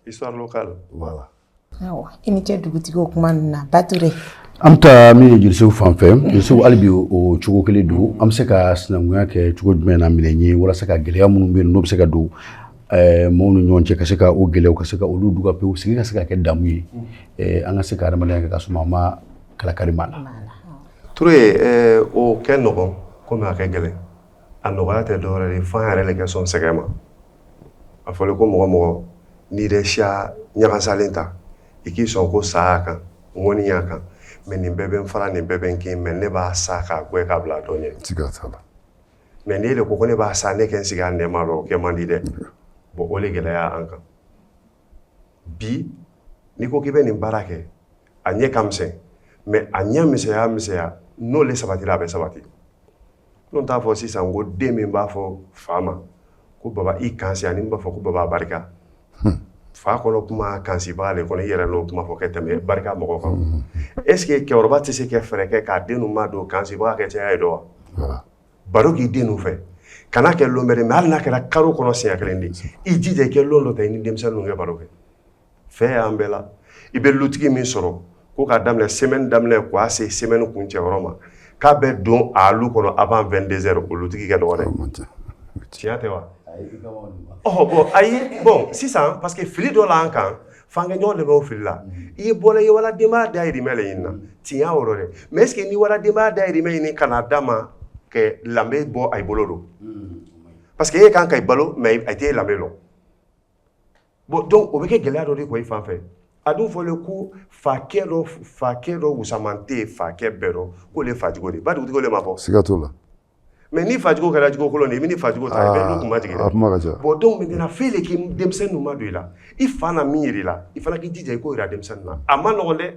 histoire locale voilà awɔ i ni ce dugutigi o kuma ninnu na Bature an bɛ taa min ye Jelisew fan fɛ Jelisew hali bi o cogo kelen don an bɛ se ka sinankunya kɛ cogo jumɛn na minɛn ye walasa ka gɛlɛya minnu bɛ yen n'o bɛ se ka don Eh, mɔgɔw ni ɲɔgɔn cɛ ka se ka o gɛlɛyaw ka se ka olu duga pewu sigi ka se ka kɛ damu ye eh, an ka se ka adamadenya kɛ ka suma ma kalakari b'a la Ture o kɛ nɔgɔ kɔmi a kɛ gɛlɛn a nɔgɔya tɛ dɔwɛrɛ ye f'an yɛrɛ de kɛ sɔn sɛgɛn ma a fɔra ko mɔgɔ mɔgɔ ni yɛrɛ siya ɲagasalen ta i k'i sɔn ko sa y'a kan ŋɔni y'a kan mais nin bɛɛ bɛ n fara nin bɛɛ bɛ n kin mais ne b'a sa k'a bɔ k'a bila dɔ ɲɛ mais ne de ko ko ne b'a sa ne kɛ n sigi nɛma o kɛ man di dɛ bon o de gɛlɛya an kan bi n'i ko k'i bɛ nin baara kɛ a ɲɛ ka misɛn mais a ɲɛ misɛnya misɛnya n'o le sabatira a bɛ sabati n'o t'a fɔ sisan ko den min b'a fɔ fa ma ko baba i kansi ani b'a fɔ ko baba barika hmm. fa kɔnɔ kuma kansibaga le kɔnɔ i yɛrɛ n'o kuma fɔ kɛ tɛmɛ barika mɔgɔ kan hmm. est ce que cɛkɔrɔba tɛ se kɛ fɛɛrɛ kɛ k'a den madon kansibaga kɛ caya ye dɔ wa baro k'i den ninnu fɛ kana kɛ lon bɛrɛ mais hali n'a kɛra karo kɔnɔ siɲɛ kelen de i jija i kɛ lon dɔ ta i ni denmisɛnninw kɛ baro kɛ fɛn y'an bɛɛ la i bɛ lutigi min sɔrɔ ko k'a daminɛ semaine daminɛ k'a se semaine kuncɛ yɔrɔ ma k'a bɛ don a lu kɔnɔ avant vingt-deux heures o lutigi kɛ dɔgɔ dɛ tiɲɛ tɛ wa bon ayi bon sisan parce que fili dɔ la kan F'an kɛ ɲɔgɔn dɛmɛ o fili la i ye bɔla i ye wala denbaya dahirimɛ ɲini na tiɲɛ y'o yɔrɔ dɛ mais est ce que n'i wala denbaya dahirimɛ ɲini ka n'a d'a ma kɛ danbe bɔ a bolo don parce que e kan ka i balo mais a tɛ lanbe dɔn bon donc o bɛ kɛ gɛlɛya dɔ de ko i fan fɛ a dun fɔlen ko fa dɔ fa dɔ muman tɛ fa bɛɛ dɔn ko de fa jogo ba dugu de b'a fɔ sigiigakatɔ la mais ni fa jogo kɛra jogo kolon i bɛ ni fa jogo ta i bɛ kunmajigi bon donc maintenant fɛn de k'i denmisɛnnin ninnu madon i la i fana miiri la i fana k'i jija i ko jira denmisɛnnin na a man nɔgɔ dɛ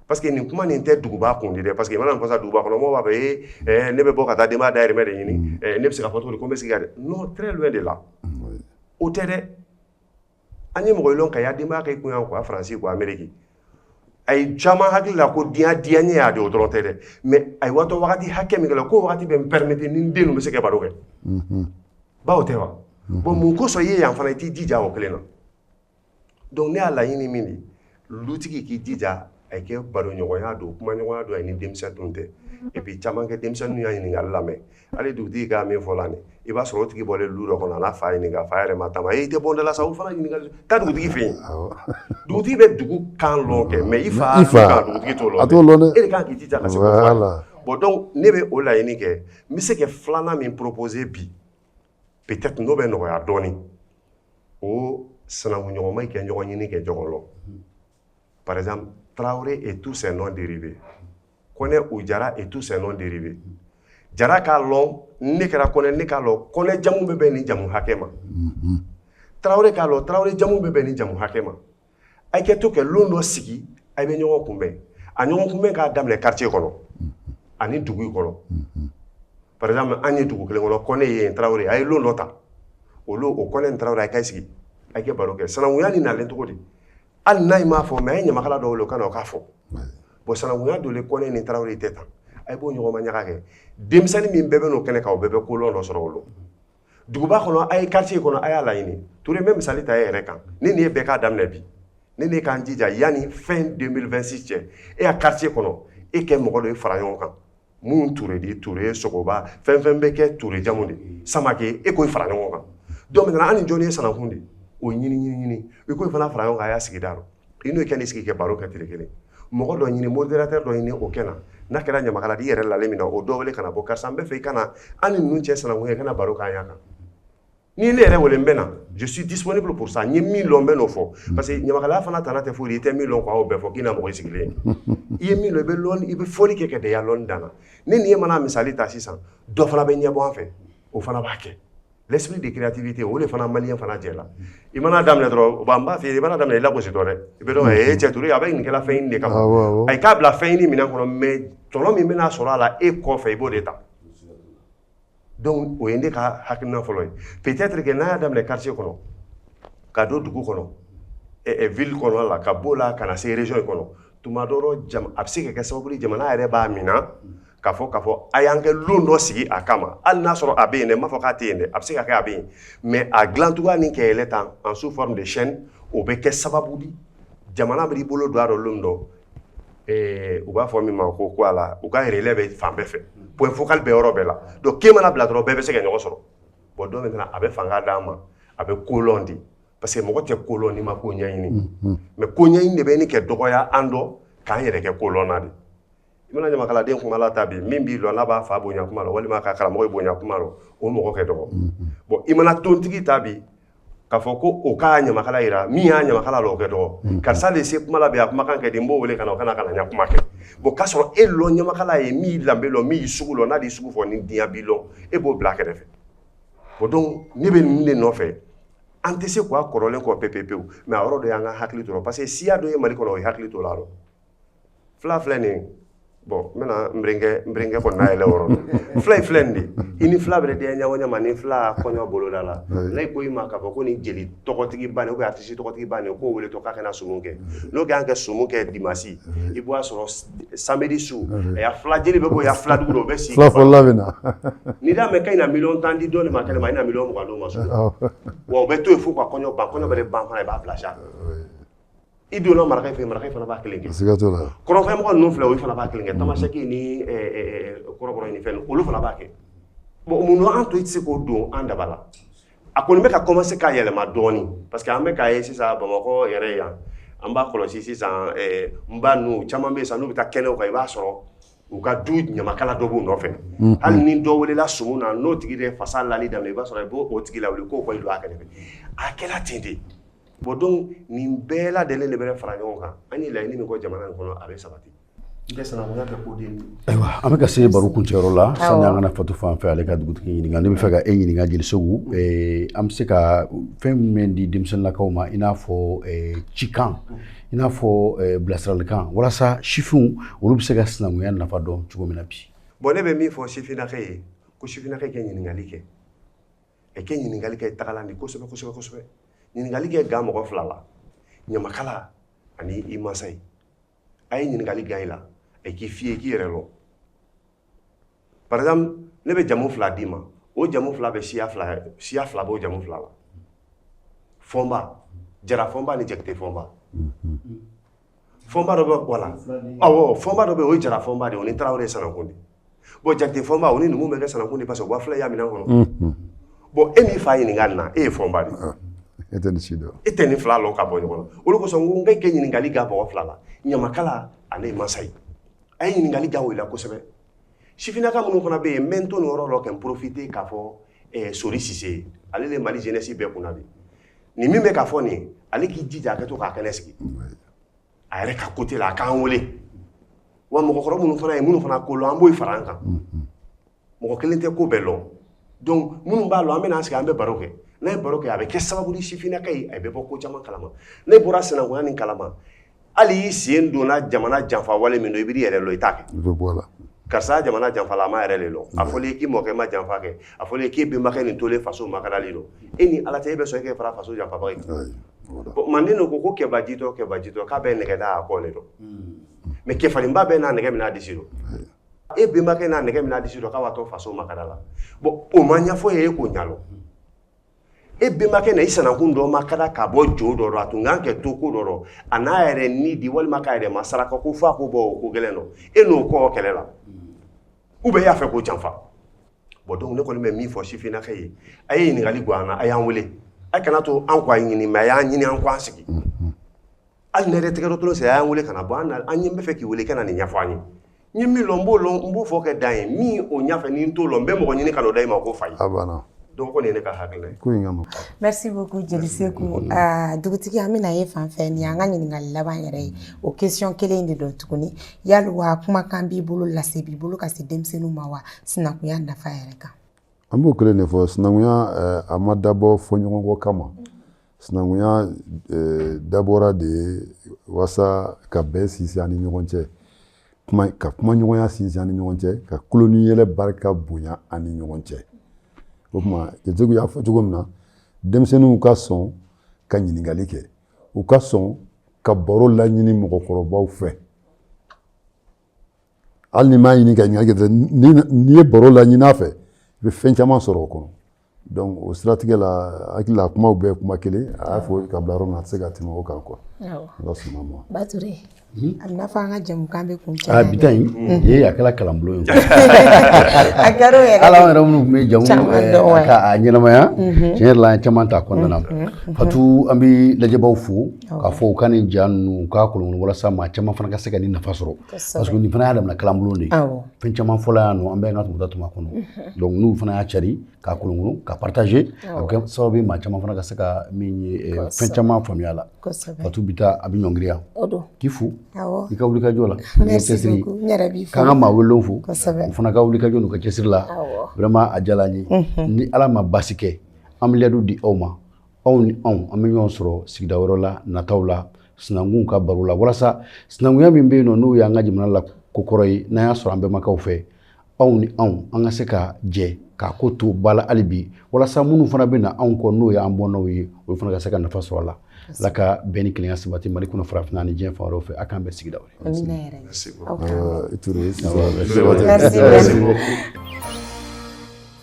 parce que nin kuma nin tɛ duguba kun dɛ parce que mana fasa duguba kɔnɔ b'a fɛ e ne bɛ bɔ ka taa denbaya dahirimɛ de ɲini ne bɛ se ka fɔ cogo ko n bɛ se ka dɛ non très loin de là o tɛ dɛ an ye mɔgɔ lɔn ka y'a denbaya kɛ kun ko faransi ko ameriki a ye caman hakili la ko diya diyanyɛ y'a di o dɔrɔn tɛ dɛ mais a ye watɔ wagati hakɛ min kɛ la ko wagati bɛ n permettre n ni denw bɛ se ka baro kɛ ba o tɛ wa bon mun kosɔn i ye yan fana i t'i jija o kelen na donc ne y'a laɲini min de lutigi k'i jija a ye kɛ baroɲɔgɔnya don kumaɲɔgɔnya don a ni denmisɛnninw tɛ et puis caman kɛ denmisɛnninw y'a ɲininkali lamɛn hali dugutigi k'a min fɔ la nin i b'a sɔrɔ o tigi bɔlen lu dɔ kɔnɔ a n'a fa ye nin k'a fa yɛrɛ ma taama ee i tɛ bɔ n dala sa o fana ɲininkali taa dugutigi fɛ yen dugutigi bɛ dugu kan lɔn kɛ mais i fa kan dugutigi t'o lɔn a t'o lɔn dɛ e de kan k'i jija ka se k'o fɔ a ye voilà bon donc ne bɛ o laɲini kɛ n bɛ se ka filanan min proposer bi peut-être n'o bɛ nɔgɔya dɔɔni o sanankunɲɔgɔnma kɛ ɲɔgɔn ɲini kɛ ɲɔgɔn lɔn par exemple Traoré et tous ses noms dérivés Kɔnɛ ou Jara et tous ses noms dérivés Jara k'a lɔn ni ne kɛra Kɔnɛ ne k'a lɔn Kɔnɛ jamu bɛ bɛn nin jamu hakɛ ma Traoré k'a lɔn Traoré jamu bɛ bɛn nin jamu hakɛ ma a kɛ to kɛ lon dɔ sigi a bɛ ɲɔgɔn kunbɛn a ɲɔgɔn kunbɛn k'a daminɛ quartier kɔnɔ ani dugu kɔnɔ par exemple an ye dugu kelen kɔnɔ kɔnɛ ye tarawele a ye lon dɔ ta o o kɔnɛ tarawele a ka sigi a kɛ baro kɛ sanankuya ni nalen cogo di hali n'a m'a fɔ mais a ye ɲamakala dɔw o ka na k'a fɔ bon sanankuya donnen kɔnɛ ni tarawele tɛ tan a b'o ɲɔgɔnma ɲaga kɛ denmisɛnnin min bɛɛ bɛ n'o kɛnɛ kan o bɛɛ bɛ kolɔn dɔ sɔrɔ o duguba kɔnɔ a ye quartier kɔnɔ a y'a laɲini ture n bɛ misali ta e yɛrɛ kan ne ni e bɛɛ k'a daminɛ bi ne ni e k'an jija yanni fin 2026 cɛ e ka quartier kɔnɔ e kɛ mɔgɔ dɔ ye fara ɲɔgɔn kan mun ture di ture sogoba fɛn fɛn bɛ kɛ ture jamu de samake e k'o fara ɲɔgɔn kan donc maintenant an ni jɔni ye sanankun di o ɲini ɲini ɲini i k'o fana fara ɲɔgɔn kan a y'a sigida rɔ i n'o kɛ ni sigi kɛ baro kɛ tile kelen mɔgɔ dɔ ɲini modérateur dɔ ɲini o kɛ na n'a kɛra ɲamakala di i yɛrɛ lalen min na o dɔ wele ka na bon karisa n bɛ fɛ i ka na an ni ninnu cɛ sanankunya i ka na baro k'an y'a kan ni ne yɛrɛ wele n bɛ na je suis disponible pour ça n ye min lɔn n bɛ n'o fɔ parce que ɲamakalaya fana tana tɛ foyi i tɛ min lɔn k'aw bɛɛ fɔ k'i na mɔgɔ i sigilen i ye min lɔn i bɛ lɔn i bɛ fɔli kɛ ka dan i ya lɔnni dan na ne ni e mana misali ta sisan dɔ fana bɛ ɲɛbɔ an fɛ o fana b'a kɛ L'esprit de créativité o de fana malien fana jɛ la i mana daminɛ dɔrɔn bon n b'a f'i ye i mana daminɛ i lagosi dɔrɔn dɛ i bɛ dɔn ka ee cɛ Ture a bɛ nin kɛla fɛn ɲini de kama awɔ awɔ ayi k'a bila fɛn ɲini minɛn kɔnɔ mais tɔnɔ min bɛna sɔrɔ a la e kɔfɛ i b'o de ta donc o ye ne ka hakilina fɔlɔ ye peut-être que n'a y'a daminɛ quartier kɔnɔ ka don dugu kɔnɔ ɛ ɛ ville kɔnɔ la ka b'o la ka na se région in kɔnɔ tuma dɔ a bɛ se ka kɛ sababu ye jamana yɛrɛ b'a mina k'a fɔ k'a fɔ a y'an kɛ lon dɔ sigi a kama hali n'a sɔrɔ a bɛ yen dɛ n m'a fɔ k'a tɛ yen dɛ a bɛ se ka kɛ a bɛ yen mais a dilancogoya ni kɛlen tan en sous forme de chaîne o bɛ kɛ sababu di jamana b'i bolo don a rɔ lon dɔ u b'a fɔ min ma ko voilà u ka relais bɛ fan bɛɛ fɛ point focal bɛ yɔrɔ bɛɛ la donc ke mana bila dɔrɔn bɛɛ bɛ se ka ɲɔgɔn sɔrɔ bon donc maintenant a bɛ fanga d'a ma a bɛ kolɔn di parce que mɔgɔ tɛ kolɔn n'i ma ko ɲɛɲini mm-hmm. mais ko ɲɛɲini de bɛ ni kɛ dɔgɔya an dɔ k'an yɛrɛ kɛ kolɔnna di i mana ɲamakaladen kuma la ta bi min b'i lɔn n'a b'a fa bonya kuma la walima ka karamɔgɔ bonya kuma la o mɔgɔ kɛ dɔgɔ mm-hmm. bon i mana tontigi ta bi k'a fɔ ko o k'a ɲamakala yira min y'a ɲamakala lɔn o kɛ dɔgɔ mm-hmm. karisa de se kuma la bi a kumakan kɛ di n b'o wele ka na o ka na ka na ɲa kuma kɛ bon k'a sɔrɔ e lɔ ɲamakala ye min y'i lanbe lɔn min y'i sugu lɔn n'a d'i sugu fɔ ni diɲɛ b'i lɔn e b'o bila kɛrɛfɛ bon donc ne bɛ nin de nɔfɛ an tɛ se k'a kɔrɔlen kɔ pepe pewu mais a yɔrɔ dɔ y'an ka hakili to parce que siya dɔ ye mali kɔnɔ o ye hakili to la dɔn fila filɛ nin bon n bɛna nbkɛ kɔnɔ n'a yɛlɛ yɔrɔ fila filɛ nin de i ni fila bɛ denkɛ ɲa ɲɛma ni fila kɔɲɔ boloda la ne ko i ma k'a fɔ ko nin jeli tɔgɔtigi ban o artiste tɔgɔtigi ban ye k'o wele to k'a ka na sumu kɛ n'o ka na kɛ sumu kɛ dimasi i b'a sɔrɔ samedi su a fila jeli bɛ bɔ a fila duuru o bɛ sigi n'i d'a mɛn ka na million tan di dɔn ma kɛnɛ ma i na dɔn mɔgɔ ma sɔrɔ wa o bɛ to yen fo ka kɔɲɔ ban kɔɲɔ bɛ ban i b'a bila sa i donna maraka fɛ maraka fana b'a kelen kɛ kɔrɔnfɛ mɔgɔ ninnu fila o fana b'a kelen kɛ tamasɛki ni kɔrɔbɔrɔ ni fɛn olu fana b'a kɛ bon mun an to i tɛ se k'o don an daba la a kɔni bɛ ka commencer ka yɛlɛma dɔɔnin parce que an bɛ k'a ye sisan Bamakɔ yɛrɛ yan an b'a kɔlɔsi sisan ɛɛ n ba ninnu caman bɛ yen sisan n'u bɛ taa kɛnɛw kan i b'a sɔrɔ u ka du ɲamakala dɔ b'u nɔfɛ hali ni dɔ welela sumu na n'o tigi de ye fasa lali daminɛ i b'a sɔrɔ i b'o tigi lawuli k'o kɔni don a kɛrɛfɛ a kɛra ten de bon donc nin bɛɛ lajɛlen de bɛ fara ɲɔgɔn kan an ye laɲini min kɔ jamana in kɔnɔ a bɛ sabati Ayiwa an bɛ ka se baro kuncɛyɔrɔ la sani an ka na fatu fan fɛ ale ka dugutigi ɲininka ne bɛ fɛ ka e ɲininka jeli segu an bɛ se ka fɛn min di denmisɛnninlakaw ma i n'a fɔ cikan i n'a fɔ bilasiralikan walasa sifinw olu bɛ se ka sinankunya nafa dɔn cogo min na bi bon ne bɛ min fɔ sifinnaka ye ko sifinnaka kɛ ɲininkali kɛ e kɛ ɲininkali kɛ tagalan di kosɛbɛsɛbɛsɛbɛ ɲininkali kɛ gan mɔgɔ fila la ɲamakala ani i masa ye a ye ɲininkali gan i la a k'i f'i ye k'i yɛrɛ lɔn par exemple ne bɛ jamu fila d'i ma o jamu fila bɛ siya fila siya fila b'o jamu fila la fɔnba jara fɔnba ni jakite fɔnba fɔnba dɔ bɛ wala awɔ fɔnba dɔ bɛ o ye jara fɔnba de o ni tarawele sanakun de bon jakite fɔnba o ni numu bɛ kɛ sanakun de parce que wa fila y'a minɛ kɔnɔ mm-hmm. bon e min fa ɲininka nin na e ye fɔnba de ah, e tɛ nin si dɔn e tɛ nin fila lɔn ka bɔ ɲɔgɔn na o de kosɔn n ko n kɛ ɲininkali gan mɔgɔ fila la ɲamakala ani masa ye a ye ɲininkali gan o la kosɛbɛ sifinnaka minnu fana bɛ yen n bɛ n to nin yɔrɔ la ka n profiter k'a fɔ eh, sori sise ye ale de mali jeunesse bɛɛ kunna bi nin min bɛ k'a fɔ nin ale k'i jija a ka to ka kɛnɛ sigi a yɛrɛ ka côté la a k'an wele wa mɔgɔkɔrɔ minnu fana ye minnu fana ko lɔn an b'o fara an kan mɔgɔ kelen tɛ ko bɛɛ lɔn donc minnu b'a lɔn an bɛna an sigi an bɛ baro kɛ n'an ye baro kɛ a bɛ kɛ sababu di sifinnaka ye a bɛ bɔ ko caman kalama n'i bɔra sinankunya nin kalama hali i sen donna jamana janfa wale min dɔ i b'i yɛrɛ lɔn i t'a kɛ karisa jamana janfa la a ma yɛrɛ de lɔn a fɔlen k'i mɔkɛ ma janfa kɛ a fɔ k'e bɛnbakɛ nin tolen faso makarali dɔ e ni ala tɛ e bɛ sɔn e k'e fara faso janfabaa ye manden dɔ ko ko kɛbajitɔ kɛbajitɔ k'a bɛ nɛgɛ da a kɔ de dɔ mais kɛfarinba bɛ n'a nɛgɛ minɛ a disi dɔ e bɛnbakɛ n'a nɛgɛ minɛ a disi dɔ k'a b'a to faso makara la bon o ma ɲɛfɔ i ye e k'o ɲalɔn e bɛnbakɛ na i sinankun dɔ makanda k'a bɔ jo dɔ dɔ a tun kan kɛ to ko dɔ dɔ a n'a yɛrɛ ni di walima k'a yɛrɛ ma saraka ko fo a k'o bɔ o ko gɛlɛn dɔ e n'o kɔ kɛlɛ la u bɛɛ y'a fɛ k'o janfa bon donc ne kɔni bɛ min fɔ sifinnakɛ ye a ye ɲininkali gan an na a y'an wele a kana to an ko a ɲini mais a y'an ɲini an ko an sigi hali ne yɛrɛ tɛgɛ dɔtolo sɛ a y'an wele ka na bɔ an an ye n bɛ fɛ k'i wele i ka na nin ɲɛfɔ an ye n ye min lɔn n b'o lɔn n b'o fɔ kɛ dan ye min o ɲɛfɛ ni n t'o lɔn n bɛ mɔgɔ ɲini ka n'o da i ma k'o f'a ye donc ko nin ye ne ka hakilila ye ko in ka nɔgɔn merci beaucoup jeli seku dugutigi an bɛ na e fan fɛ nin y'an ka ɲininkali laban yɛrɛ ye o question kelen in de don tuguni Yali wa kumakan b'i bolo lase b'i bolo ka se denmisɛnninw ma wa sinankunya nafa yɛrɛ kan an b'o kelen de fɔ sinankunya eh, a ma dabɔ fɔɲɔgɔnkɔ kama sinankunya eh, dabɔra de walasa ka bɛn sinsin an ni ɲɔgɔn cɛ ka kumaɲɔgɔnya sinsin an ni ɲɔgɔn cɛ ka tulon ni yɛlɛ barika bonya an ni ɲɔgɔn cɛ o tuma jeli y'a fɔ cogo min na denmisɛnninw ka sɔn ka ɲininkali kɛ u ka sɔn ka baro laɲini mɔgɔkɔrɔbaw fɛ hali n'i m'a ɲini ka ɲininkali kɛ n'i ye baro laɲini a fɛ i bɛ fɛn caman sɔrɔ o kɔnɔ donc o siratigɛ la hakilila kumaw bɛɛ kuma kelen a y'a fɔ ka bila yɔrɔ min na a tɛ se ka tɛmɛ o kan quoi ala sɔnn'a ma Hmm? A bɛ n'a fɔ an ka jɛmukan bɛ kuncɛ bi ta in hmm. a kɛra kalanbulon ye a kɛra yɛrɛ hali an yɛrɛ minnu tun bɛ jɛmu eh, k'a ɲɛnamaya hmm. tiɲɛ yɛrɛ la an caman t'a kɔnɔna na fatu an bɛ lajɛbaw fo k'a fɔ u ka nin ja ninnu k'a kolon walasa maa caman fana ka se ka nin nafa sɔrɔ parce que nin fana y'a damana kalanbulon de ye fɛn caman fɔla yan nɔ an bɛ an ka tɔmɔta tɔm'a kɔnɔ donc n'u fana y'a cari k'a kolon k'a partager a bɛ kɛ sababu ye maa caman fana ka se ka fɛn caman faamuya a la fatu bi ta an bɛ ɲɔngiri yan k'i fo i ka wulikajɔ la cɛsiri k'an ka maa welelenw fo u fana ka wulikajɔ n'u ka cɛsiri la vraiment a diyala an ye ni ala ma basi kɛ an bɛ layidu di aw ma aw ni anw an bɛ ɲɔgɔn sɔrɔ sigida wɛrɛ la nataw la sinankun ka baro la walasa sinankunya min bɛ yen n'o y'an ka jamana la kokɔrɔ ye n'an y'a sɔrɔ an bɛnbakɛ fɛ aw ni anw an ka se ka jɛ k'a ko to ba la hali bi walasa minnu fana bɛ na anw kɔ n'o y'an bɔnnaw ye olu fana ka se ka nafa sɔrɔ a la ala ka bɛn ni kelenya sabati mali kɔnɔ farafinna ni diɲɛ fan wɛrɛw fɛ a k'an bɛn sigida wɛrɛ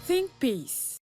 Think peace.